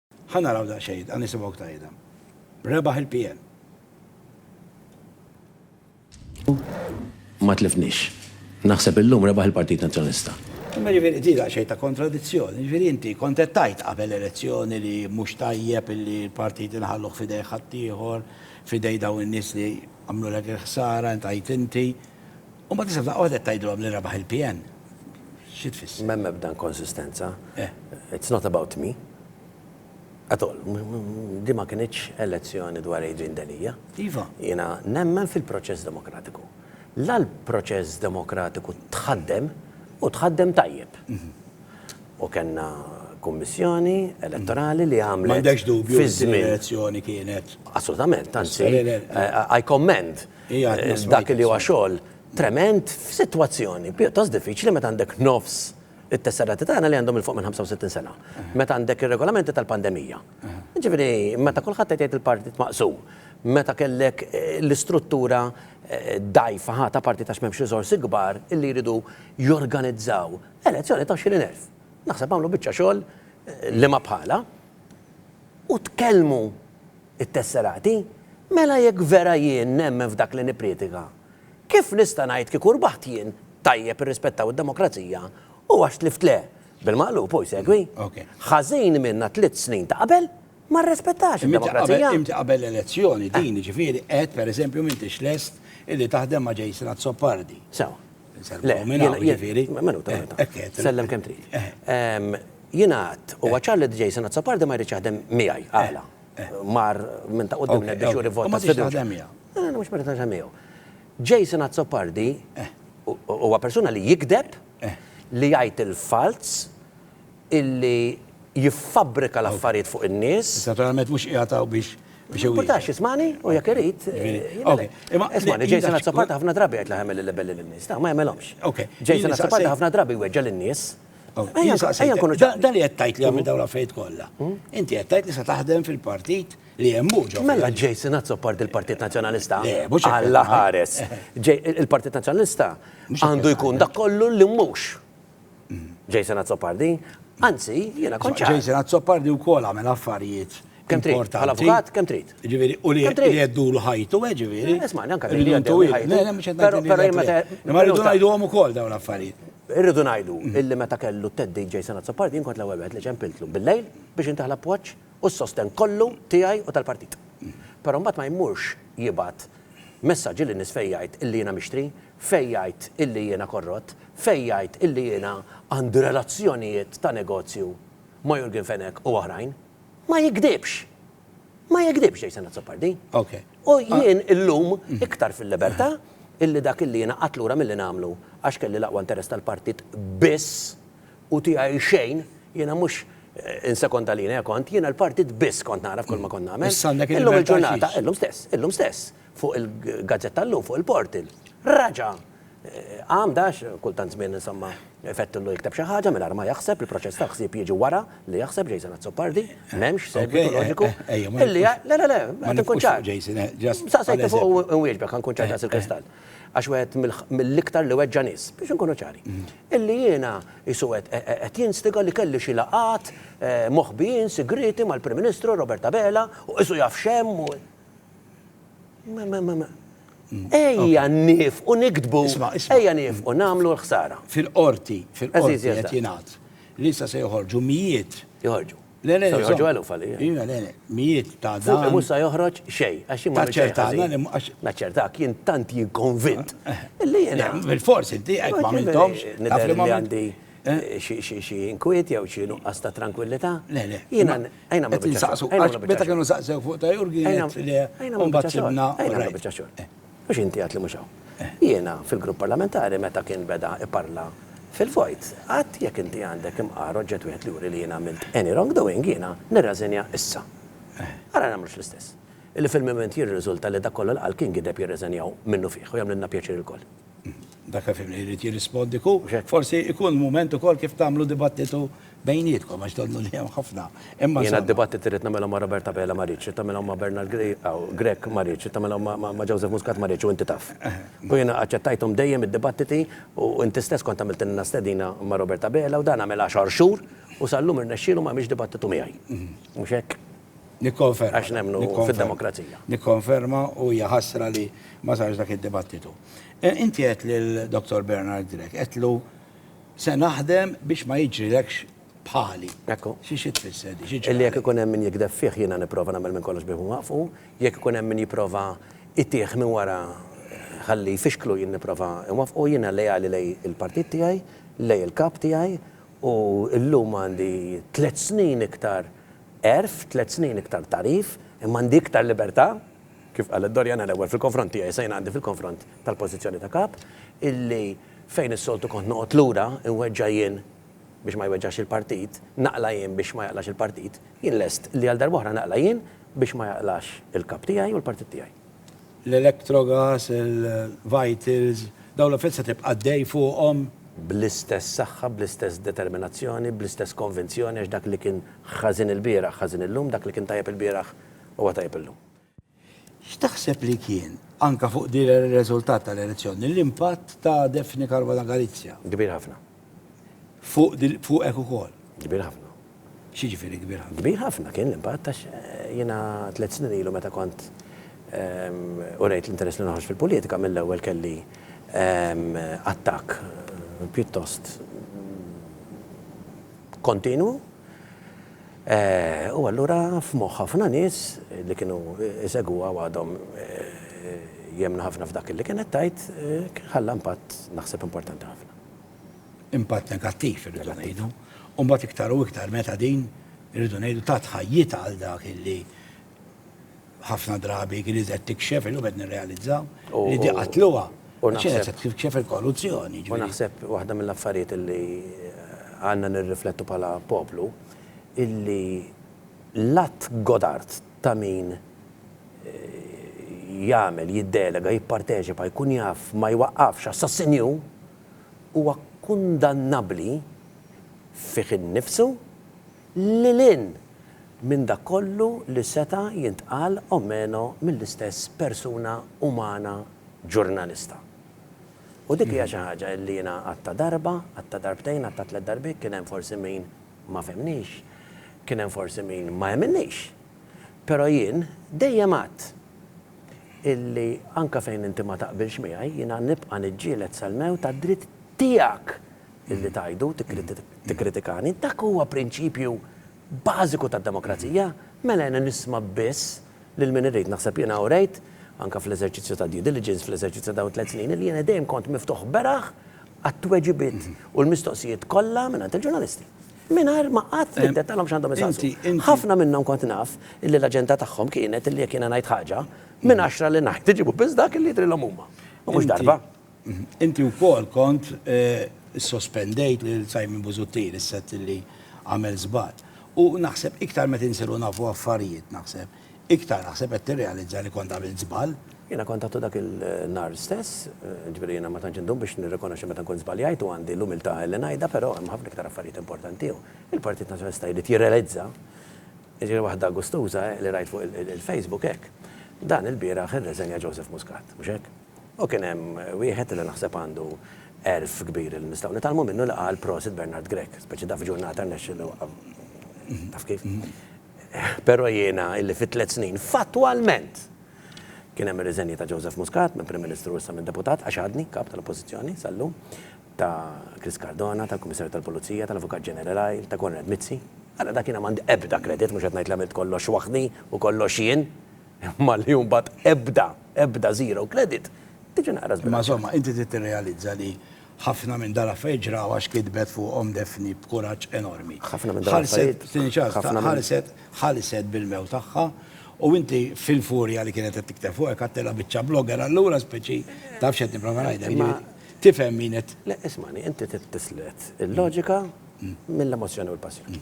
Ħa naraw daqsxejn, ħa nisimgħu ktajda. Rebaħ il-PN. Ma tlifnix. Naħseb illum rebaħ il-Partit Nazzjonista. Imma ġifieri di xejn ta' kontradizzjoni, ġifieri inti kontettajt qabel elezzjoni li mhux tajjeb li l-partit inħalluh fidej ħaddieħor, fidej daw in-nies li għamlu lek il-ħsara, intajt inti, U mbagħad isem daqqa waħda qed tgħidilhom li rebaħ il-PN. Xi tfisser? M'hemm ebda inkonsistenza. It's not about me. At all. Din ma kinitx elezzjoni dwar Adrian Delia. Iva. Jiena nemmen fil-proċess demokratiku. La l-proċess demokratiku tħaddem u tħaddem tajjeb. U kellna kummissjoni elettorali li għamlet. M'għandekx dubju li din l-elezzjoni kienet. Assolutament, anzi, I commend. Dak li huwa xogħol tremend f'sitwazzjoni pjuttost diffiċli meta għandek nofs it-tesserati tagħna li għandhom 'il fuq minn 65 sena. Meta għandek ir-regolamenti tal-pandemija. Jiġifieri meta kulħadd qed jgħid il-partit maqsum. Meta kellek l-istruttura dgħajfa ħa ta' partit għax m'hemmx riżorsi kbar illi jridu jorganizzaw elezzjoni ta' 20,000. Naħseb għamlu biċċa xogħol liema bħalha. U tkellmu t-tesserati, Mela jekk vera jien nemmen f'dak li nippriedika, kif nista' ngħid kieku rbaħt jien, tajjeb irrispettaw id-demokrazija u għax tlift le? Bil-maqlub hu jsegwi. Ħażin minna tliet snin ta' qabel ma rrispettax id-demokrazija. Inti qabel l-elezzjoni din jiġifieri għedt pereżempju m'intix lest illi taħdem ma' Jason Azzopardi. Sewa. Insellmu minn hawn jiġifieri. Minuta, minuta. Hekk għedt. Sellem kemm trid. Jiena għedt, huwa ċar li Jason Azzopardi ma jridx jaħdem miegħi. Għala? Mar minn ta' quddiem lejn biex juri vot ta' sfiduċja. U ma tridx taħdem miegħu? Le, mhux ma rrid naħdem miegħu. Jason Azzopardi huwa persuna li jigdeb, li jgħid il-falz, li jiffabbrika l-affarijiet fuq in-nies. Issa naturalment mhux qiegħed hawn biex iwieġeb. Ma jimpurtax jismagħni u jekk irid. Okej. Ismagħni, Jason Azzopardi ħafna drabi jgħid l-aħjar mill-libelli lin-nies. Le, ma jagħmilhomx. Okej. Jason Azzopardi ħafna drabi jweġġa' lin-nies. Dan li jettajt li għamil dawn l-affarijiet kollha. Hmm? Inti jettajt li se taħdem fil-partit li hemm mhux. Mela ġej sinat sopport il-Partit Nazzjonalista. Alla ħares. Il-Partit Nazzjonalista għandu jkun dak kollu li mhux. Hmm. Ġej sinat soppardi. Anzi, jiena konċa. Ġej sinat soppardi wkoll għamel affarijiet Kemm trid? Importanti. Bħala avukat, kemm trid? Ġifieri, u li Kemm trid? li jeddulu ħajtu, eh, ġifieri. Eh, Isma'ni, anka Rridu li jeddulu ntuwil. ħajtu. Le, le, mhux qed Però- ngħid li però jien le. meta- Imma rridu minuta. ngħiduhom ukoll dawn l-affarijiet. Irridu ngħidu illi meta kellu t-teddid Jason Azzopardi jien kont l-ewwel wieħed li ċempiltlu bil-lejl biex intih l-appoġġ u s-sostenn kollu tiegħi u tal-partit. Però mbagħad ma jmurx jibgħat messaġġi lin-nies fejn jgħid illi jiena mixtri, fejn jgħid illi jiena korrott, fejn jgħid illi jiena għandi relazzjonijiet ta' negozju ma' Jurgen Fenech u oħrajn. ma jigdibx. Ma jigdibx Jason Azzopardi. U jien illum iktar fil-libertà illi dak illi jiena qatt lura milli nagħmlu għax kelli l-aqwa interess tal-partit biss u tiegħi xejn, jiena mhux insekonda lili kont, jiena l-partit biss kont nara f'kull ma kont nagħmel. Illum il-ġurnata, illum stess, illum stess, Fuq il-gazzetta llum, fuq il-portal, raġa' qam dax, kultant żmien insomma fettillu jikteb xi ħaġa mingħajr ma jaħseb, il-proċess tal-ħsieb jiġi wara li jaħseb Jason Azzopardi, m'hemmx segwitu loġiku. Illi jgħid, le, le, le, qed inkun ċar. Saqsejtni fuq u inwieġbek, ħa nkun ċar daqs il-kristall. Għax wieħed mill-iktar li weġġa' nies, biex inkunu ċari. Illi jiena qisu qed jinstiga li kelli xi laqgħat moħbijin sigrieti mal-Prim Ministru Robert Abela u qisu jaf x'hemm u. Ejja niefqu niktbu, ejja niefqu nagħmlu l-ħsara. Fil-Qorti, fil-Qorti qed jingħad li issa se joħorġu mijiet. Joħorġu. Le, le, joħorġu eluf għalija. Iva, le, le, mijiet ta' dan. Fuqi mhux se joħroġ xejn, għax jien ma nagħmilx xejn. Naċċertana li mhux. Naċċertak, jien tant jien konvint li jiena. Bilfors inti hekk ma għamilthomx. Nidher li għandi. xi inkwiet jew xi nuqqas ta' trankwillità. Le, le. Jiena għajna ma' biċċa xogħol. Qed insaqsu, għax meta kienu saqsew fuq ta' Jurgen għedt le, u mbagħad sibna. Għajna ma' biċċa xogħol. Mhux inti għedt li mhux hawn. Jiena fil-Grupp Parlamentari meta kien beda jparla fil-vojt, għedt jekk inti għandek imqar, oġġett wieħed li juri li jiena għamilt any wrongdoing, jiena nirreżenja issa. Ara nagħmlux l-istess. Illi fil-mument jirriżulta li dak kollu li qal kien gideb jirreżenjaw minnufih u jagħmlilna pjaċir ilkoll. Dak li fimni jrid jirrispondi ku biex hekk forsi ikun mument ukoll kif tagħmlu dibattitu bejnietkom għax donnu li hemm ħafna. Imma Jiena d-dibattit irrid nagħmilhom ma' Robert Abela ma rridx, irrid nagħmilhom ma' Bernard Grech ma rridx, irrid nagħmilhom ma' Joseph Muscat ma rridx u inti taf. U jiena aċċettajthom dejjem id-dibattiti u inti stess kont għamiltilna stedina ma' Robert Abela u dan għamel għaxar xhur u sal-lum irnexxielu ma għamilx dibattitu miegħi. Mhux hekk? Nikkonferma. Għax nemmnu fid-demokrazija. Nikkonferma u hija ħasra li ma sarx dak id-dibattitu. Inti għedt lil Dottor Bernard Grech, għedtlu se naħdem biex ma jiġrilekx bħali. Ekku. Xi xi tfisser di? Xi ġara? Illi jekk ikun hemm min jigdeb fih jiena nipprova nagħmel minn kollox biex inwaqqfu, jekk ikun hemm min jipprova jtih minn wara ħalli jfixklu jien nipprova nwaffqu, jiena leali lejn il-partit tiegħi, lejn il-Kap tiegħi u llum għandi tliet snin iktar Għerf tliet snin iktar tagħrif, imma għandi iktar libertà, kif qalet Doriana l-ewwel fil-konfront tiegħi se jien għandi fil-konfront tal-pożizzjoni ta' kap, illi fejn is-soltu kont noqgħod lura, inweġġa' jien biex ma jweġġax il-partit, naqla' jien biex ma jaqlax il-partit, jien lest li għal darb'oħra naqla' jien biex ma jaqlax il-kap tiegħi u l-partit tiegħi. l-electrogas, il-vitals, dawn l-affarijiet se tibqa' ddej fuqhom? Bl-istess saħħa, bl-istess determinazzjoni, bl-istess konvinzjoni għax dak li kien ħażin ilbieraħ ħażin illum, dak li kien tajjeb ilbieraħ huwa tajjeb illum. X'taħseb li kien, anke fuq din ir-riżultat tal-elezzjoni, l-impatt ta' Daphne Caruana Galizia? Kbir ħafna. Fuq dil- fuqek ukoll. Kbir ħafna. X'jiġifieri kbir ħafna? Kbir ħafna kien l-impatt għax jiena tliet snin ilu meta kont urejt l-interess li noħroġ fil-politika mill-ewwel kelli attakk pjuttost kontinwu u allura f'moħħ ħafna nies li kienu jsegwuha u għadhom jemmnu ħafna f'dak li kienet tgħid ħalla impatt naħseb importanti ħafna. impatt negattiv irridu ngħidu, u mbagħad iktar u iktar meta din irridu ngħidu tat ħajjitha għal dak illi ħafna drabi kien iżgħet tikxef illum qed nirrealizzaw li di qatluha. U naħseb tikxef il-korruzzjoni. U naħseb waħda mill-affarijiet illi għandna nirriflettu bħala poplu illi l-att Godart ta' min jagħmel, jiddelega, jipparteċipa, jkun jaf, ma jwaqqafx assassinju, huwa kundannabbli fih innifsu lil hinn minn dak kollu li seta' jintqal o meno mill-istess persuna umana ġurnalista. U dik hija xi ħaġa li jiena għadtha darba, għadtha darbtejn, għadtha tliet darbiet, kien hemm forsi min, Ma fehmnix. Kien hemm forsi min ma emminnix. Però jien dejjem għadt illi anke fejn inti ma taqbilx miegħi, jiena nibqa' niġġieled sal-mewt għad-dritt tiegħek illi tgħidu, tikkritikani. Dak huwa prinċipju bażiku tad-demokrazija. Mela jiena nisma' biss lil min irrid. Naħseb jiena urejt, anke fl-eżerċizzju tad-due diligence, fl-eżerċizzju ta' dawn it-tliet snin, illi jiena dejjem kont miftuħ beraħ għat-tweġibiet u l-mistoqsijiet kollha mingħand il-ġurnalisti. Mingħajr ma qatt niddettalhom x'għandhom isaqsu. Ħafna minnhom kont naf illi l-aġenda tagħhom kienet illi jekk jiena ngħid ħaġa, minn għaxra li ngħid iġibu biss dak illi jidhrilhom huma. U mhux darba. Inti wkoll kont issospendejt lil Simon Busuttil is-sett illi għamel żball. U naħseb iktar meta insiru nafu affarijiet, naħseb, Iktar naħseb qed tirrealizza li kont għamilt żball. Jiena kont għadtu dak il-nhar stess, jiġifieri jiena ma tantx indum biex nirrikonoxxi meta nkun żbaljajt u għandi l-umiltà li ngħidha, però hemm ħafna iktar affarijiet importanti u l-Partit Nazzjonalista jrid jirrealizza, jiġifieri waħda gustuża li rajt fuq il-Facebook hekk, dan ilbieraħ irreżenja Joseph Muscat, mhux hekk? U kien hemm wieħed li naħseb għandu għerf kbir li nistgħu nitgħallmu minnu li qal prosit Bernard Grech, speċi da f'ġurnata rnexxielu, taf kif? Però jiena illi fi tliet snin fattwalment kien hemm ir-riżenji ta' Joseph Muscat minn Prim Ministru u issa minn Deputat, għax għadni Kap tal-Oppożizzjoni sal-lum, ta' Chris Cardona, tal-Kummissarju tal-Pulizija, tal-Avukat Ġenerali, ta' Konrad Mizzi. Ara dak jiena m'għandi ebda kredit, mhux qed ngħid li għamilt kollox waħdi u kollox jien, imma li mbagħad ebda, ebda zero kredit, tiġi naqra żbilanċjata. Imma żomma, inti trid tirrealizza li Ħafna minn dal-affarijiet ġraw għax kitbet fuqhom Daphne b'kuraġġ enormi. Ħafna minn dal-affarijiet. Ħallset, tieni ċans, ħallset, ħallset bil-mewt tagħha u inti fil-furja li kienet qed tikteb fuqek għadtilha biċċa blogger allura speċi taf x'qed nipprova ngħidlek, jiġifieri tifhem min qed. Le, ismagħni, inti trid tislet il-loġika mill-emozzjoni u l-passjoni.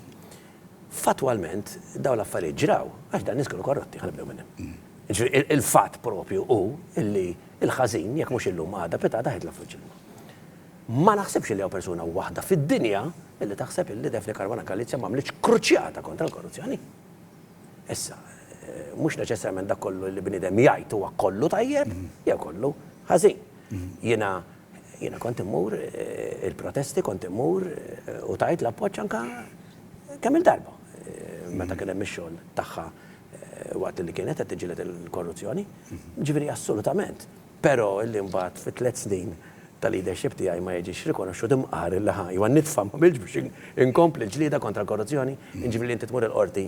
Fattwalment dawn l-affarijiet ġraw għax dawn nies kienu korrotti, ħa nibdew minn hemm. Jiġifieri il-fatt proprju hu li l-ħażin, jekk mhux illum għada pitgħada ħajtlaq fuq ġildu. Ma naħsibx li hawn persuna waħda fid-dinja li taħseb li Daphne Caruana Galizia m'għamlitx kruċjata kontra l-korruzzjoni. Issa, mhux neċessarjament dak kollu li bniedem jgħid huwa kollu tajjeb jew kollu ħażin. Jiena jiena kont immur eh, il-protesti kont immur eh, u tajt l-appoġġ anka kemm il-darba eh, meta kien hemm ix-xogħol tagħha waqt li kienet qed tiġġieled il-korruzzjoni, jiġifieri assolutament. Però illi mbagħad fi tliet snin ta' leadership tiegħi ma jiġix rikonoxxut imqar illi ħa jew nitfa' ma għamiltx biex inkompli l-ġlieda kontra l-korruzzjoni, jiġifieri li inti tmur il-Qorti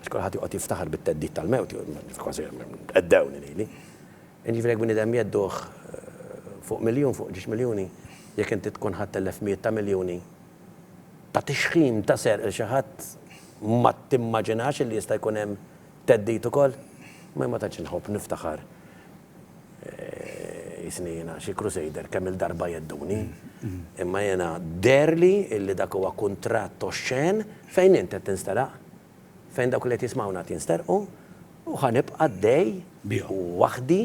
għax kulħadd joqgħod jiftaħar bit-theddid tal-mewt, kważi theddewni lili. Jiġifieri jekk bniedem jhedduh fuq miljun, fuq ġiex miljuni, jekk inti tkun ħadt telef mijiet ta' miljuni, ta' tixħim, ta' serq 'il xi ħadd, ma timmaġinax illi jista' jkun hemm theddid ukoll? Ma jien ma tantx inħobb niftaħar jisni jiena xi crusader kemm-il darba jedduni, imma jiena deherli illi dak huwa kuntratt oxxen fejn int qed tinstaraq Fejn dawk li qed jismgħuna qed jinsterqu, u ħa nibqa' għaddej bihom. Waħdi,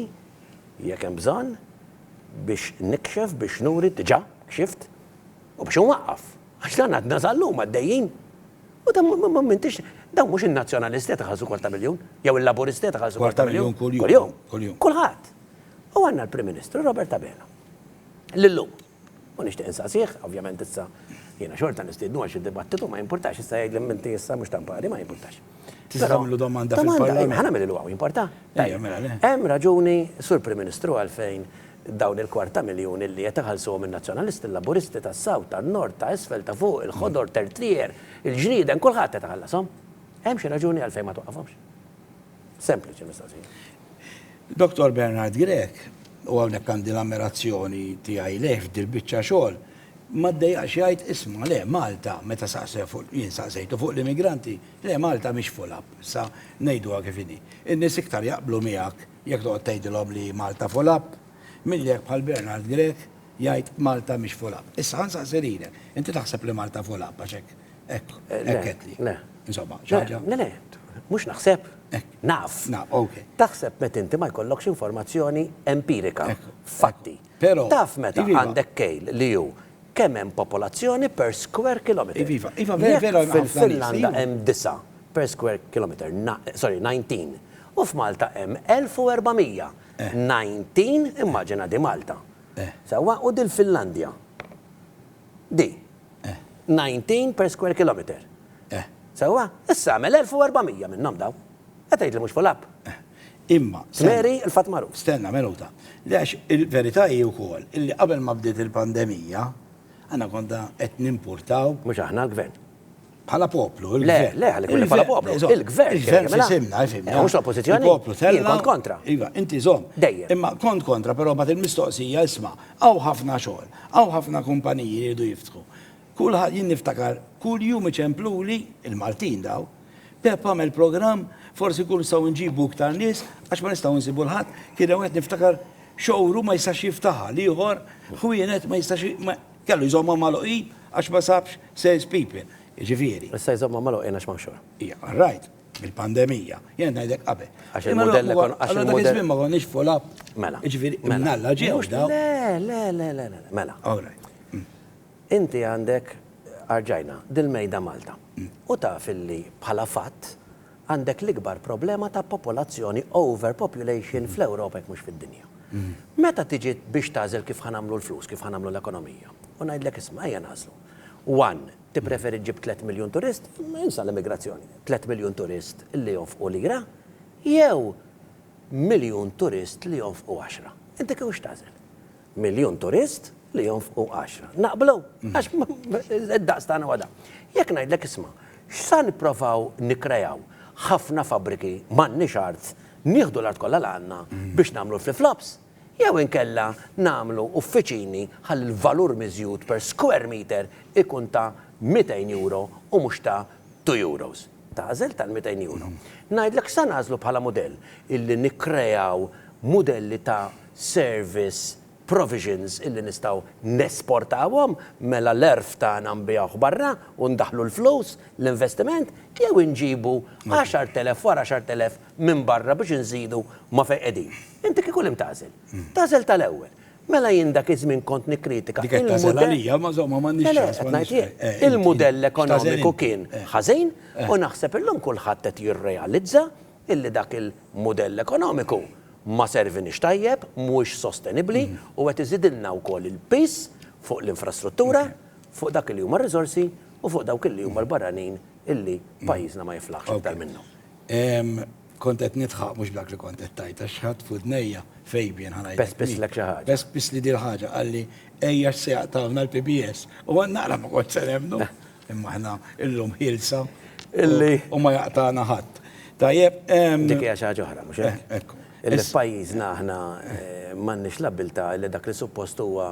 jekk hemm bżonn, biex nikxef, biex nuri, diġà kxift, u biex inwaqqaf. Għax dan għadna sal-lum għaddejjin. U dan m'intix, dawn mhux in-Nazzjonalisti qed iħallsu kwarta miljun, jew il-Laburisti qed iħallsu kwarta miljun kuljum. Kuljum. Kulħadd. U għandna l-Prim Ministru Robert Abela, li llum. U nixtieq insaqsih, ovvjament issa jiena xorta nistiednu għal xi dibattitu ma jimpurtax issa jgħidli minti issa mhux tampari ma jimpurtax. Tista' tagħmlu domanda fil-Parlament. Ħa nagħmel il-waw, jimporta? Ejja, mela le. Hemm raġuni, Sur Prim Ministru, għalfejn dawn il-kwarta miljun illi qed iħallsuhom in-Nazzjonalisti, il-Laburisti, tas-South, tan-Nord, ta' isfel, ta' fuq, il-Ħodor, Tertrier, il-Ġrieden, kulħadd qed iħallashom. Hemm xi raġuni għalfejn ma twaqqafhomx? Sempliċi mistoqsija. Dottor Bernard Grech, u hawnhekk għandi l-ammirazzjoni tiegħi lejh f'dil biċċa xogħol, ma ddejjaqx jgħid isma' le Malta meta saqsew fuq jien saqsejtu fuq l-immigranti, le Malta mhix full up, issa ngħiduha kif inhi. In-nies iktar jaqblu miegħek jekk toqgħod tgħidilhom li Malta full up milli jekk bħal Bernard Grech jgħid Malta mhix full up. Issa ħa nsaqsi lilek, inti taħseb li Malta full up għax hekk Ekk, ekk għedli. Le. Insomma, ċaġa. Le, le, mux naħseb. Naf. Naf, ok. Taħseb met inti ma jkollokx informazzjoni empirika. Fatti. Pero. Taf meta għandek kejl li ju kemm hemm popolazzjoni per square kilometer. Iva, iva, vera, vera. Fil-Finlanda hemm disa per square kilometer, sorry, 19. U f'Malta hemm 1400. 19, immaġina di Malta. Sewa, u dil-Finlandja. Di. 19 per square kilometer. Sewwa? Issa agħmel 1400 minnhom dawn. Qed tgħid li mhux full up? Imma. Mary, il-fatt magħruf. Stenna minuta. Le għax il-verità hi wkoll illi qabel ma bdiet il-pandemija, aħna konna qed nimpurtaw. Mhux aħna, l-Gvern. Bħala poplu, il-gvern. Le, le, bħala poplu. Il-gvern. Il-gvern mela. Simna, jifimna. Eh, mux l-oppozizjoni. Il-poplu tella. Kont kontra. Iva, inti zom. Dejjem. Imma kont kontra, pero bat il-mistoqsija, isma, għaw ħafna xogħol, għaw ħafna kumpaniji li jridu jiftħu. Kull jien niftakar, kull jum iċempluli, il-Maltin daw, Pep għamel program, forsi kull saw nġibu iktar nis, għax ma nistaw nsibu l-ħat, kien għet niftakar xowru ma jistax jiftaħa, liħor, xwienet ma jistax Kellu jżommhom magħluqin għax ma sabx sales people, jiġifieri. Issa jżommhom magħluqin għax m'hawnx xogħol. Hija, all right, bil-pandemija. Jien qed ngħidlek qabel. Għax il-mudell li konna. Allura dak iż-żmien ma konniex full up. Mela. Jiġifieri imnalla ġew dawn. Le, le, le, le, le, mela. All right. Inti għandek, arġajna, dil-mejda Malta. U taf illi bħala fatt. għandek l-ikbar problema ta' popolazzjoni, overpopulation, fl-Ewropa jekk mhux fid-dinja. Meta tiġi biex tagħżel kif ħa nagħmlu l-flus, kif ħa nagħmlu l-ekonomija, u ngħidlek isma' ejja nagħżlu. One, tippreferi ġġib tliet miljun turist, insa l-immigrazzjoni, tliet miljun turist li jonfqu lira, jew miljun turist li jonfqu għaxra. Inti kif x'tagħżel? miljun turist li jonfqu għaxra. Naqblu? Għax id-daqs tagħna huwa dan. Jekk ngħidlek isma', x'sa nipprovaw nikkreaw ħafna fabbriki, m'għandniex art, nieħdu l-art kollha li għandna biex nagħmlu l-flip-flops? Jew inkella nagħmlu uffiċini ħalli l-valur miżjud per square meter ikun ta' 200 euro u mhux ta' two euros? Tagħżel tal-200 euro. Ngħidlek x'sa nagħżlu bħala mudell, illi nikkreaw mudelli ta' service provisions illi nistgħu nesportawhom, mela l-għerf tagħna nbigħuh barra u ndaħħlu l-flus, l-investiment, jew inġibu għaxart elef wara għaxart elef minn barra biex inżidu ma' fejn qegħdin. Inti kieku li mtagħżel? Tagħżel tal-ewwel. Mela jien dak iż-żmien kont nikkritika il-mudell. Dik qed tagħżel għalija, ma żomma m'għandniex ċans. Le, le, qed ngħid jien. Il-mudell ekonomiku kien ħażin u naħseb illum kulħadd qed jirrealizza illi dak il-mudell ekonomiku ma serviniex tajjeb, mhuwiex sostenibbli u qed iżidilna wkoll il-piż fuq l-infrastruttura, fuq dak li huma r-riżorsi u fuq dawk li huma l-barranin illi pajjiżna ma jiflaħx iktar minnhom. Kont qed nidħaq mhux b'dak li kont qed tgħid għax ħadt f'udnejja, Fabian ħa ngħidlek. Pespisslek xi ħaġa. Pespisli din il-ħaġa, qalli, Ejja x'se jaqtgħuna l-PBS. U naqra ma kontx se nemmnu. Imma aħna illum ħielsa illi u ma jaqtagħna ħadd. Tajjeb. Dik hija xi ħaġa oħra, mhux hekk? Eh, ekku. Illi f'pajjiżna aħna eh, m'għandniex l-abbiltà li dak li suppost huwa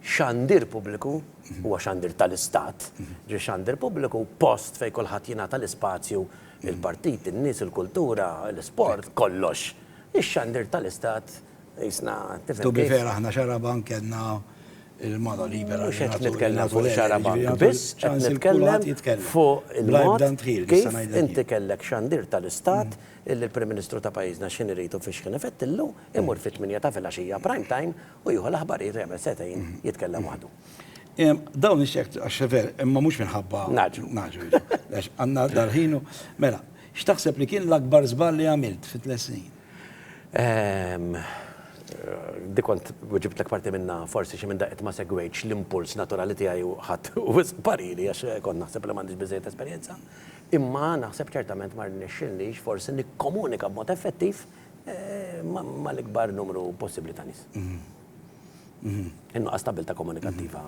xandir pubbliku mhm. huwa xandir tal-istat, mhm. ġi xandir pubbliku post fejn kulħadd jingħata l-ispazju mhm. il-partit, in-nies, il-kultura, l-isport, kollox. Ix-xandir tal-istat Jisna, tifhem. To be fair, aħna xarabank kellna il-mano libera. Mhux qed nitkellem fuq xarabank biss, qed nitkellem fuq il-mod kif inti kellek xandir tal-istat illi l-Prim Ministru ta' pajjiżna x'ħin irid u fiex ħin ifettillu, imur fit-tmienja ta' filgħaxija prime time u jieħu l-aħbarijiet u jagħmel setgħin jitkellem waħdu. Dawn ix-xejk għax veru, imma mhux minħabba. Ngħaġġlu. Ngħaġġlu. Għax għandna dal-ħin u mela, x'taħseb li kien l-akbar żball li għamilt fit-tliet snin? Ehm. Dik kont weġibtlek parti minnha, forsi xi minn daqqiet ma segwejtx l-impuls naturali tiegħi u ħadt wisq pariri għax kont naħseb li m'għandix biżżejjed esperjenza. Imma naħseb ċertament ma rnexxilnix forsi nikkomunika b'mod effettiv mal-ikbar numru possibbli ta' nies. In-nuqqas ta' abilità komunikattiva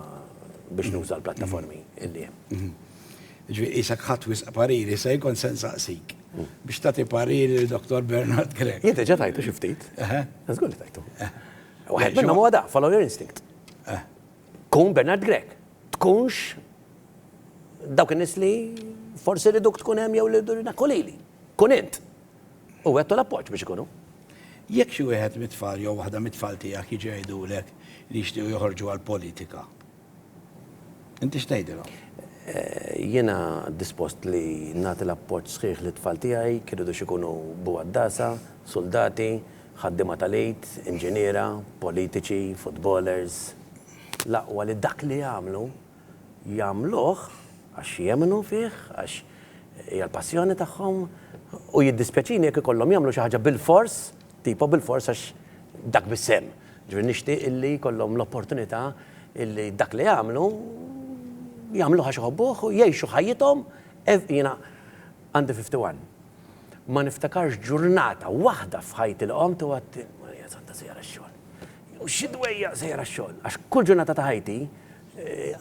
biex nuża l-plattaformi li hemm. Ġifieri qisek ħadt wisq pariri, se jkun se nsaqsik biex tagħti pariri lil Dottor Bernard Grech. Jien diġà tajtu xi ftit. Żgur li tajtu. Waħed minnhom huwa dan, follow your instinct. Kun Bernard Grech. Tkunx dawk in-nies li forsi riduk tkun hemm jew li ridna tkun lili. Kun int. u wegħdtu l-appoġġ biex ikunu. Jekk xi wieħed mit-tfal jew waħda mit-tfal tiegħek jiġu jgħidulek li jixtiequ joħorġu għall-politika, inti x'tgħidilhom? Jiena dispost li nagħti l-appoġġ sħiħ lit-tfal tiegħi, kif iridux ikunu bugħaddasa, suldati, ħaddiema tal-ejd, inġiniera, politiċi, futbolers, l-aqwa li dak li jagħmlu jagħmluh għax jemmnu fih, għax hija l-passjoni tagħhom u jiddispjaċini jekk ikollhom jagħmlu xi ħaġa bilfors, tipo bilfors għax dak biss hemm. Ġifieri nixtieq illi jkollhom l-opportunità illi dak li jagħmlu jagħmluh għax iħobbuh u jgħixu ħajjithom jiena għandi 51. Ma niftakarx ġurnata waħda f'ħajti li qomt u għadt Marija Santa sejra x-xogħol. Jew xi dwejjaq sejra x-xogħol. Għax kull ġurnata ta' ħajti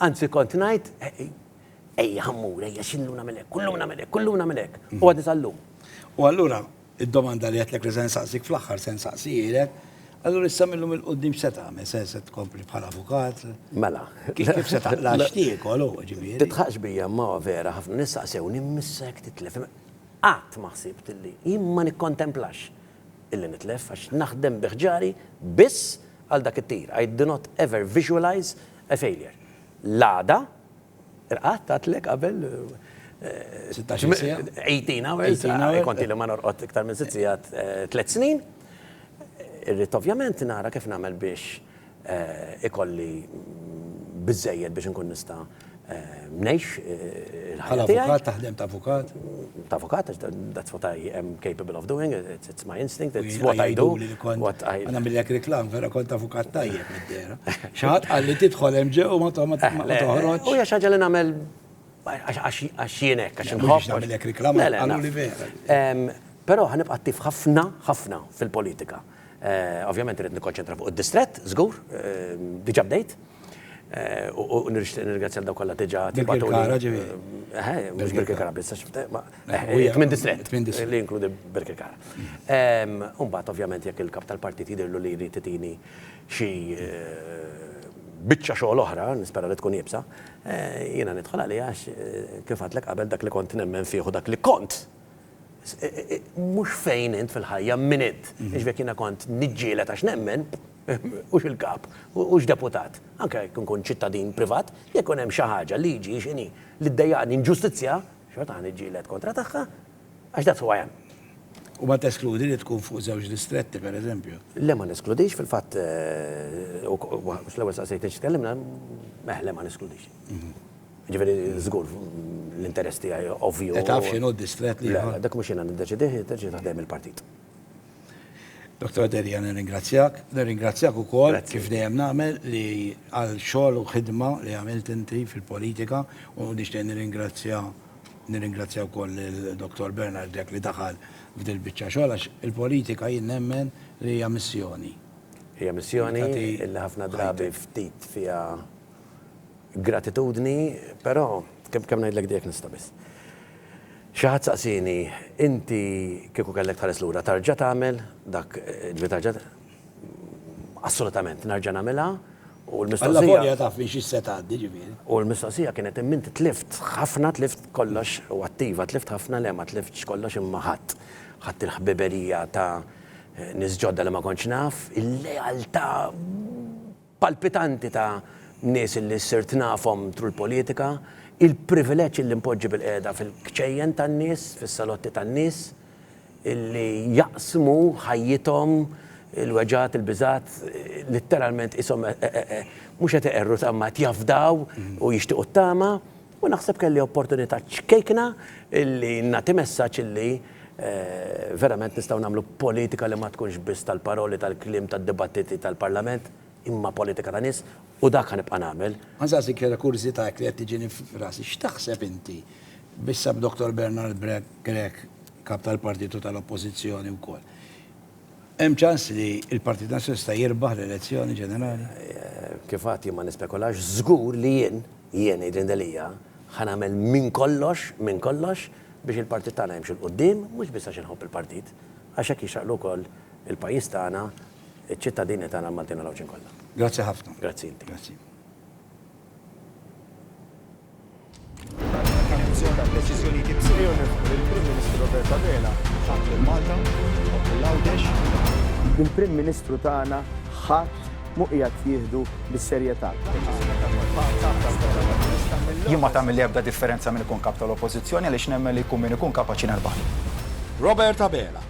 Anzi kont ngħid, ejja ħammur, ejja xillum nagħmel hekk, kullum nagħmel hekk, kullum nagħmel hekk. U għadni sal-lum. U allura, id-domanda li għedtlek li se nsaqsik fl-aħħar se nsaqsijilek, allura issa millum il-qudiem x'se tagħmel? Se se tkompli bħal avukat? Mela. Kif se taqla' x'tiekol hu ġifieri? Titħaqx bija ma vera ħafna nistaqsewni missek titlef. Qatt ma ħsibt li jien ma nikkontemplax illi nitlef għax naħdem bi ħġari biss għal dak it-tir. I do not ever visualize a failure. L-għada, irqadt għadtlek qabel, 16 siegħa, 18 hours, kont ili ma norqod iktar minn sitt siegħat tliet snin, irrid ovvjament nara kif nagħmel biex ikolli biżżejjed biex inkun nista' ngħix il-ħajja tiegħi. Bħala avukat taħdem ta' avukat? Ta' avukat għax that's what I am capable of doing, it's my instinct, it's what I do. Nagħmillek reklam, vera kont avukat tajjeb mid-dehra. Xi ħadd qal li tidħol hemm ġewwa ma toħroġx. U hija xi ħaġa li nagħmel għax jien hekk, għax inħobb. Mhux nagħmillek reklam, qaluli vera. Però ħa nibqa' attiv ħafna, ħafna fil-politika. Ovvjament irrid nikkonċentra fuq id-distrett, żgur, diġà bdejt. U nirixtieq nirringrazzja lil dawk kollha diġà tibgħatu. Birkirkara ġieli. Eħe, mhux Birkirkara biss, għax tmien distrett li jinkludi Birkirkara. U mbagħad ovvjament jekk il-Kap tal-Partit jidhirlu li jrid itini xi biċċa xogħol oħra, nispera li tkun iebsa, jiena nidħol għaliha għax kif għedtlek qabel dak li kont nemmen fih u dak li kont Mhux fejn int fil-ħajja, min int. Jiġifieri jekk jiena kont niġġieled għax nemmen, hux il-kap, hux deputat, anke jekk inkun ċittadin privat, jekk ikun hemm xi ħaġa, liġi, x'inhi, li ddejjaqni, inġustizzja, xorta ħa niġġieled kontra tagħha, għax that's who I am. U ma teskludi li tkun fuq żewġ distretti, pereżempju? Le ma neskludix, fil-fatt, fl-ewwel staqsejtni xi tkellimna, le ma neskludix. Jiġifieri żgur l-interess tiegħi ovvju. E taf x'inhu d-distrett li. Le, le, dak mhux jiena niddeċidih, jiddeċidi ta' ħdejn il-partit. Dottor Delia nirringrazzjak, nirringrazzjak ukoll kif dejjem nagħmel li għal xogħol u ħidma li għamilt inti fil-politika u nixtieq nirringrazzja nirringrazzja wkoll lil Dottor Bernard Grech li daħal f'dil-biċċa xogħol għax il-politika jien nemmen li hija missjoni. Hija missjoni li ħafna drabi ftit fiha Gratitudni, però, kemm kemm ngħidlek dejjek nista' biss. Xi ħadd saqsieni, inti kieku kellek tħares lura tarġa' tagħmel dak, ġifieri tarġa' Assolutament, nerġa' nagħmilha u l-mistoqsija. Allavolja taf minn xi se tgħaddi, ġifieri. U l-mistoqsija kienet imma inti tlift ħafna, tlift kollox u attiva, tlift ħafna, le ma tliftx kollox imma ħadt. Ħadt il-ħbiberija ta' nies ġodda li ma kontx naf, il-lealtà. palpitanti ta' nies illi sirt nafhom through l-politika, il-privileġġ illi npoġġi bilqiegħda fil-kċejjen tan-nies, fis-salotti tan-nies, illi jaqsmu ħajjithom, il-weġgħat, il-biżgħat, litteralment qishom mhux qed iqerru tama qed jafdaw u jixtiequ t-tama. U naħseb kelli opportunità ċkejkna li nagħti messaġġ illi verament nistgħu nagħmlu politika li ma tkunx biss tal-paroli, tal-kliem, tad-dibattiti tal-Parlament, imma politika ta' nies, u dak ħa nibqa' nagħmel. Għażażi kera kurżità hekk li qed tiġini f'rasi, x'taħseb inti b'issa b'Doktor Bernard Grech, Kap tal-Partitu tal-Oppożizzjoni wkoll? Hemm ċans li l-Partit Nazzjonalista jirbaħ l-elezzjoni ġenerali? Kif għadt jien ma nispekulax, żgur li jien, jien ngħidli Delia, ħa nagħmel minn kollox, minn kollox biex il-Partit tagħna jimxi 'l quddiem, mhux biss għax inħobb il-Partit, għax hekk jixraqlu wkoll il-pajjiż tagħna, iċ-ċittadini tagħna l-Maltin u l-Għawdxin kollha. Grazzi ħafna. Grazzi inti. Grazzi. Il-Prim Ministru tagħna ħadd mhu qiegħed jieħdu bis-serjetà. Jien ma tagħmilli ebda differenza min ikun Kap tal-Oppożizzjoni għaliex nemmen li jkun min ikun kapaċi nerbħlu. Robert Abela.